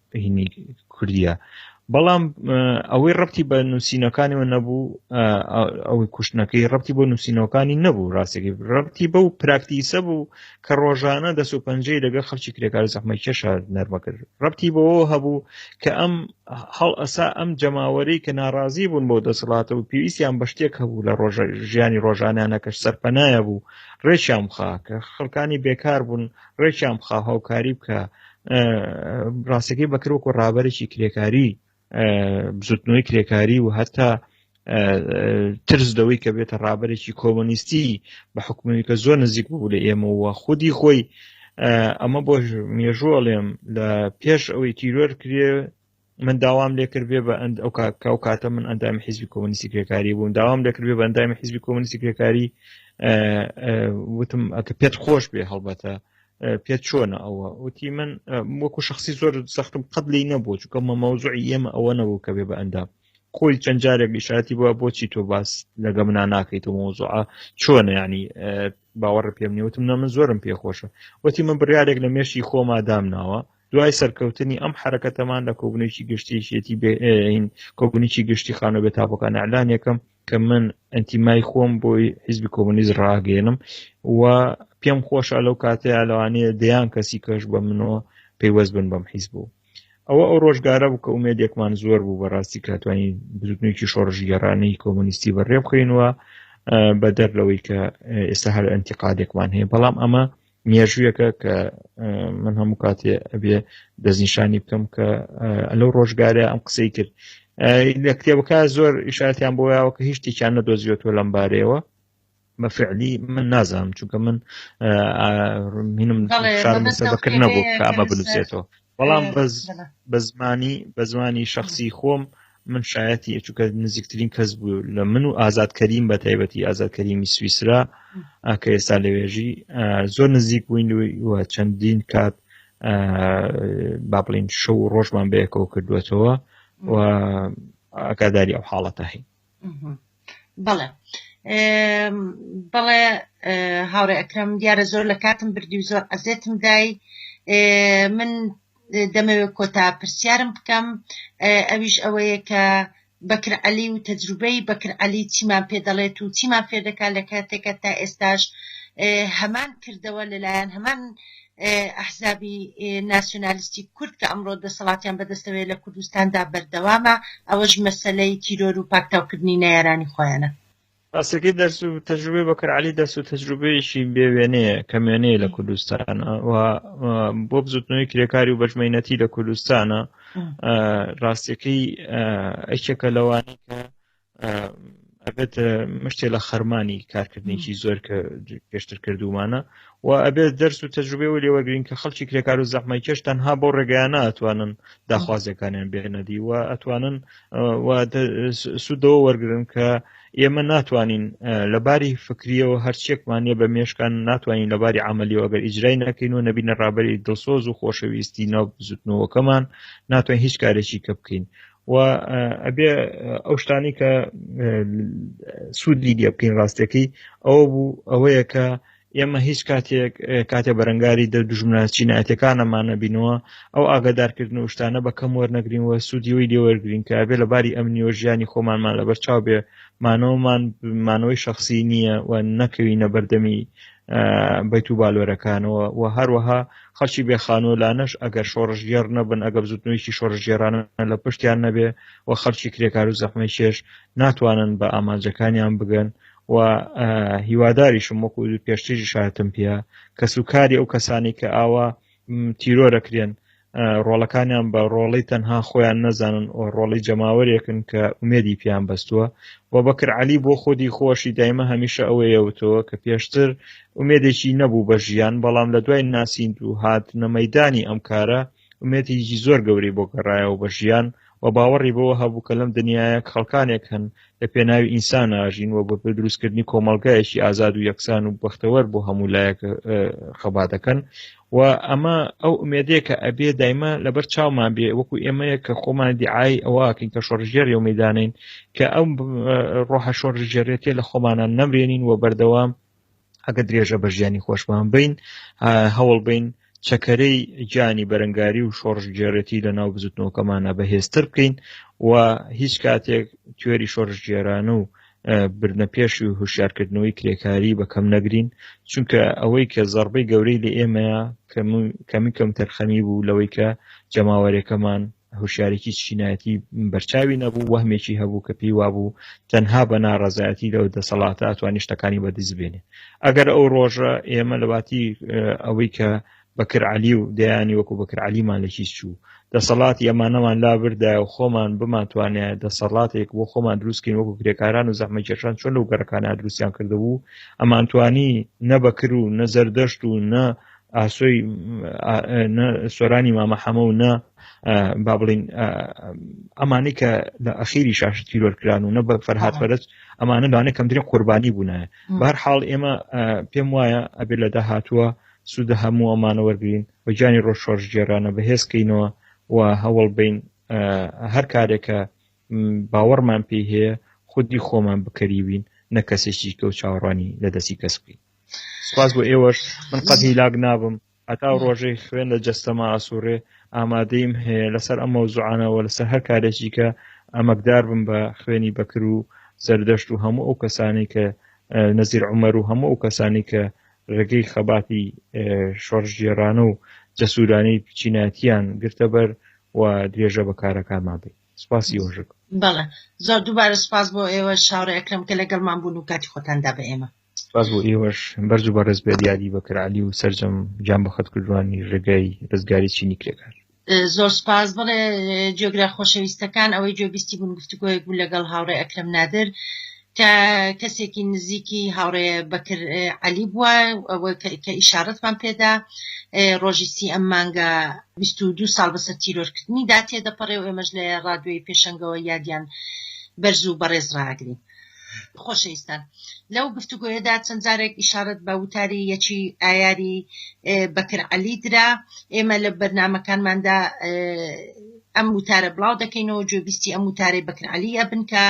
هینی کوردیە بەڵام ئەوەی ڕەتی بە نووسینەکانیەوە نەبوو ئەوەی کوشتنەکەی ڕەتی بۆ نووسینەکانی نەبوو ڕاستێکی ڕەتی بە و پراکتیسە بوو کە ڕۆژانە دەست و پەنجەی لەگە خەڵکی کرێکار زەحمە کێشە نەرمەکرد ڕەتی بەوە هەبوو کە ئەم هەڵ ئەسا ئەم جەماوەری کە ناڕازی بوون بۆ دەسەڵاتە و پێویستیان بە شتێک هەبوو لە ڕۆژە ژیانی ڕۆژانیانەکەش سەرپەنایە بوو ڕێکیان بخا کە خەڵکانی بێکار بوون ڕێکیان بخا هاوکاری بکە ڕاستەکەی بەکر وەکو ڕابەرێکی کرێکاری بزوتنەوەی کرێکاری و هەتا ترس دەوەی کە بێتە ڕابەرێکی کۆمۆنیستی بە حکومی کە زۆر نزیک بوو لە ئێمەوە خودی خۆی ئەمە بۆ مێژووەڵێم لە پێش ئەوەی تیرۆر کرێ من داوام لێکرد بێ بە ئەند ئەو کاکاو کاتە من ئەندامی حیزبی کۆمونیستی کرێکاری بووم داوام لێکرد بێ بە ئەندامی حیزبی کۆمونیستی کرێکاری وتم ئەکە پێت خۆش بێ هەڵبەتە پێت چۆنە ئەوە وتی من وەکو شخصی زۆر سەختم قەت لی نەبوو چکە مە مەوزوعی ئێمە ئەوە نەبوو کە بێ بە ئەندام خۆی چەند جارێک ئیشاتی بووە بۆچی تۆ باس لەگە منا ناکەیت و مۆزوعە چۆن ینی باوەڕ پێم نیوتم نە من زۆرم پێخۆشە وەتی من بڕارێک لە مێشی خۆما دامناوە دوای سەرکەوتنی ئەم حرەکەتەمان لە کۆبنێکی گشتیشێتی بێئین کۆبنیی گشتی خانە بێ تاپەکان ئەلان یەکەم کە من ئەنتیمای خۆم بۆی حیزبی کۆمنیز ڕاگەێنم و پێم خۆشە لەو کاتەیە لەوانەیە دەیان کەسی کەش بە منەوە پەیوەست بن بەم حیز بوو ئەوە ئەو ڕۆژگارە بوو کە ئومێدێکمان زۆر بوو بەڕاستی کاتوانی بزوتنێکی شۆڕژگەرانەی کۆمونیستی بەڕێبخینوە بەدەر لەوەی کە ئێستا هەر ئەنتیقادێکمان هەیە بەڵام ئەمە مێژوویەکە کە من هەموو کاتێ ئەبێ دەستنیشانی بکەم کە لەو ڕۆژگارە ئەم قسەی کرد لە کتێبەکە زۆر ئیشاتیان بۆ یاوە کە هیچ تێکیان نەدۆزیێتەوە لەم بارەیەوە بەفعلی من نازانم چونکە من منم شارم سەبەکرد نەبوو کە ئەمە بنووسێتەوە بەڵام بەس بە زمانی بە زمانی شخصی خۆم من شایەتی ئەچووکە نزیکترین کەس بوو لە من و ئازاد کەریم بە تایبەتی ئازاد کەریمی سویسرا کە ئێستا لەوێژی زۆر نزیک بووین و چەندین کات با بڵین شەو و ڕۆژمان بەیەکەوە کردوێتەوە و ئاگاداری ئەو حاڵەتە هەین بەڵێ بەڵێ هاوڕێ ئەکرم دیارە زۆر لە کاتم بردی و زۆر ئەزێتم دای من دەمەوێت کۆتا پرسیارم بکەم ئەویش ئەوەیە کە بەکر عەلی و تەجروبەی بەکر عەلی چیمان پێ دەڵێت و چیمان فێردەکات لە کاتێکە تا ئێستاش هەمان کردەوە لەلایەن هەمان ئەحزابی ناسیونالیستی کورد کە ئەمڕۆ دەسەڵاتیان بەدەستەوەیە لە کوردستاندا بەردەوامە، ئەوەش مەسەلەی تیرۆر و پاکتاوکردنی نەیارانی خۆیانە. ڕاستەکەی دەرس و تەجروبەی بەکر عەلی دەرس و تەجروبەیەکی بێ وێنەیە کەم وێنەیە لە کوردستان و بۆ بزوتنەوەی کرێکاری و بەژمەینەتی لە کوردستانە ڕاستەکەی ئەکێکە لەوانی کە ئەبێت مشتێ لە خەرمانی کارکردنیی زۆر کە پێشتر کردومانە و ئەبێت دەرس و تەجروبێ و لێوەگرین کە خەڵکی کرێکار و زەحمای کێش تەنها بۆ ڕێگەیانە ئەتوانن داخوازیەکانیان بێنەدی و ئەتوانن سوودەوە وەرگن کە ئێمە ناتوانین لە باری فکریەوە هەرچێکمانە بە مێشکان ناتوانین لە باری عملیەوە ئەگەر ئیجرای نەکەین و نەبینە ڕابری دڵسۆز و خۆشەویستی ناو بزوتنەوەکەمان ناتوانین هیچ کارێکی کە بکەین و ئەبێ ئەو شتانی کە سوودی لێ بکەین ڕاستەکەی ئەوە بوو ئەوەیە کە ئێمە هیچ کاتێک کاتێ بەرەنگاری دە دژمنە چینایەتەکانەمانە بینەوە ئەو ئاگادارکردن و شتانە بە کەم وەرنەگرین و سوودیەوەی لێوەرگرین کە بێ لە باری ئەمنیۆ ژیانی خۆمانمان لەبەر چاو بێ مانەوەمان مانەوەی شخصی نییە و نەکەوینە بەردەمی بیت و بالۆرەکانەوە و هەروەها خەڵکی بێ خانۆلانەش ئەگەر شۆڕژگێڕ نەبن ئەگە بزوتنەوەیکی شۆڕژگێرانە لە پشتیان نەبێ و خەڵکی کرێکار و زەحمەی چێش ناتوانن بە ئامانجەکانیان بگەن و هیواداریشم وەکو پێشتری شاتم پێە کەس و کاری ئەو کەسانی کە ئاوا تیرۆرەکرێن ڕۆڵەکانیان بە ڕۆڵی تەنها خۆیان نەزانن و ڕۆڵی جەماوەرێکن کە ئومێدی پیان بەستووە و بەکر علی بۆ خۆدی خۆشی دایمە هەمیشە ئەوەیەوتەوە کە پێشتر ئومێدێکی نەبوو بە ژیان بەڵام لە دوای ناسیند و هاتنە مەدانی ئەم کارە ئومێتێکی زۆر گەوری بۆ گەڕایەوە بە ژیان و باوەڕی بەوە هەبوو کە لەم دنیایە خەڵکانێک هەن لە پێناوی ئینسان ئاژین و بەپێ دروستکردنی کۆمەڵگایەکی ئازاد و یەکسان و بەختەوەر بۆ هەموو لایەک خەبا دەکەن و ئەمە ئەو ئومێدەیە کە ئەبێ دایمە لەبەر چاومان بێ وەکو ئێمەیە کە خۆمان دیعای ئەوواکەین کە شۆڕژێر و میدانین کە ئەم ڕۆحە شۆڕژێرێتێ لە خۆمانان نەمرێنین و بەردەوام ئەگە درێژە بە ژیانی خۆشمان بین هەوڵ بین چەکەرەی گیانی بەرەنگاری و شۆڕژگێڕێتی لە ناو بزوتنەوەکەمانە بەهێزتر بکەین و هیچ کاتێک توێری شۆڕژگێرانە و بردنە پێش و هوشارکردنەوەی کرێکاری بەکەم نەگرین چونکە ئەوەی کە زەربەی گەورەی لە ئێمەیە کەمی کەم تەرخەمی بوو لەوەی کە جەماوەرەکەمان هوشیارێکی چینایەتی بەرچاوی نەبوو وەهمێکی هەبوو کە پێی وابوو تەنها بە ناڕەزایەتی لەو دەسەڵاتە ئەتوانی شتەکانی بەدیست بێنێ ئەگەر ئەو ڕۆژە ئێمە لەواتی ئەوەی کە بەکر علی و دەیانی وەکو بەکر علیمان لە هیچ چوو دەسەڵات ئەمانەمان لا بردای و خۆمان بمانتوانێ دەسەڵاتێک بۆ خۆمان دروستکەین وەکو کرێکاران و زەحمەکێشان چۆن لەو گەڕەکانە دروستیان کردبوو ئەمانتوانی نەبەکر و نەزەردەشت و نە ئاسۆی نە سۆرانی مامە حەمە و نە با بڵین ئەمانی کە لە ئەخیری شاش تیرۆرکران و نە بە فەرهاات فەرست ئەمانە لەوانە کەمترین قوربانی بوونە بار حاڵ ئێمە پێم وایە ئەبێ لە داهاتووە سوودە هەموو ئەمانە وەرگین و گیانی ڕۆژ شۆرژ گێرانە بەهێزکەینەوە و هەوڵ بین هەر کارێکە باوەڕمان پێی هەیە خودی خۆمان بکەریوین نە کەسێکی کە و چاوەڕوانی لە دەستی کەس بکەین سپاس بۆ ئێوەش من قەت هیلاک نابم هەتا ڕۆژەی خوێن لە جەستەما ئاسوورێ ئامادەیم هەیە لەسەر ئەم مەوزوعانەوە لەسەر هەر کارێکی کە ئەمەکدار بم بە خوێنی بەکر و زەردەشت و هەموو ئەو کەسانی کە نەزیر عمەر و هەموو ئەو کەسانی کە ڕێگەی خەباتی شۆڕژگێرانە و جەسوورانی چیناتیان گرتە بەر و درێژە بە کارەکانمان بێت سپاسی وەژک بەڵێ زۆر دووبارە سپاس بۆ ئێوە شاڕێکم کە لەگەڵمان بوون و کاتی خۆتاندا بە ئێمە سپاس بۆ ئێوەش بەرز و بەڕێز بێت یادی بەکر علی و سرجەم گیان بە خەت کردوانی ڕێگای ڕزگاری چینی کرێکار زۆر سپاس بڵێ جۆگرا خۆشەویستەکان ئەوەی جۆبیستی بوون گفتوگۆیەک بوو لەگەڵ هاوڕێ ئەکرم نادر کە کەسێکی نزیکی هاوڕێ بەکر علی بووە ئەوە کە ئیشارەتمان پێدا ڕۆژی سی ئەم مانگە دو ساڵ بەسەر تیرۆرکردنی دا تێدەپەڕێ و ئێمەش لە ڕادوێی پێشنگەوە یادیان بەرز و بەڕێز ڕاگرین خۆشەویستان لەو گفتوگۆیەدا چەند جارێک ئیشارەت بە وتاری یەکی ئایاری بەکر عەلی درا ئێمە لە بەرنمەکانماندا ئەم وتارە بڵاو دەکەینەوە جۆبیستی ئەم وتارەی بەکرعلی ئەبن کە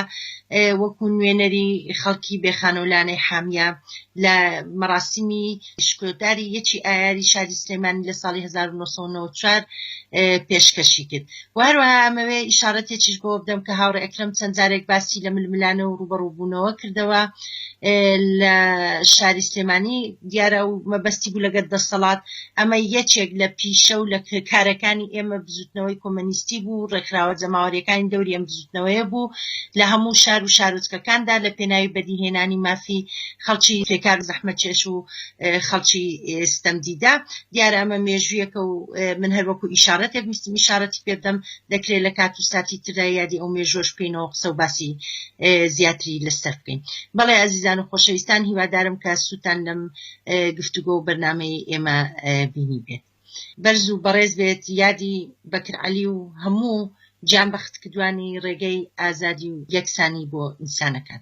وەکو نوێنەری خەڵکی بێخانەولانەی حامیە لە مەراسیمی شکۆداری یەکی ئایاری شاری سلێمانی لە ساڵی 1994 پێشکەشی کرد و هەروەها ئەمەوێ ئیشارەتێکیش بۆ بدەم کە هاوڕێ ئەکرەم چەند جارێک باسی لە ململانە و ڕوبەڕوبوونەوە کردەوە لە شاری سلێمانی دیارە و مەبەستی بوو لەگەر دەسەڵات ئەمە یەکێک لە پیشە و لە کارەکانی ئێمە بزوتنەوەی کۆمەنیستی بوو ڕێکخراوە جەماوەریەکانی دەوری ئەم بزوتنەوەیە بوو لە هەموو شار و شارۆچکەکاندا لە پێناوی بەدیهێنانی مافی خەڵکی تێکاک زەحمەتچێش و خەڵکی ستەمدیدە. دیارە ئەمە مێژوویەکە و من هەر وەکوو ئیشارەتێک ویستم ئیشارەتی پێ بدەم، دەکرێ لە کات و ساتی تردا یادی ئەو مێژووەش بکەینەوە و قسە و باسی زیاتری لە سەر بکەین. بەڵێ ئازیزان و خۆشەویستان هیوادارم کە سوودتان لەم گفتوگۆ و بەرنامەی ئێمە بینی بێت. بەرز و بەڕێز بێت یادی بەکر عەلی و هەموو گیانبەختکدوانی ڕێگەی ئازادی و یەکسانی بۆ ئینسانەکان.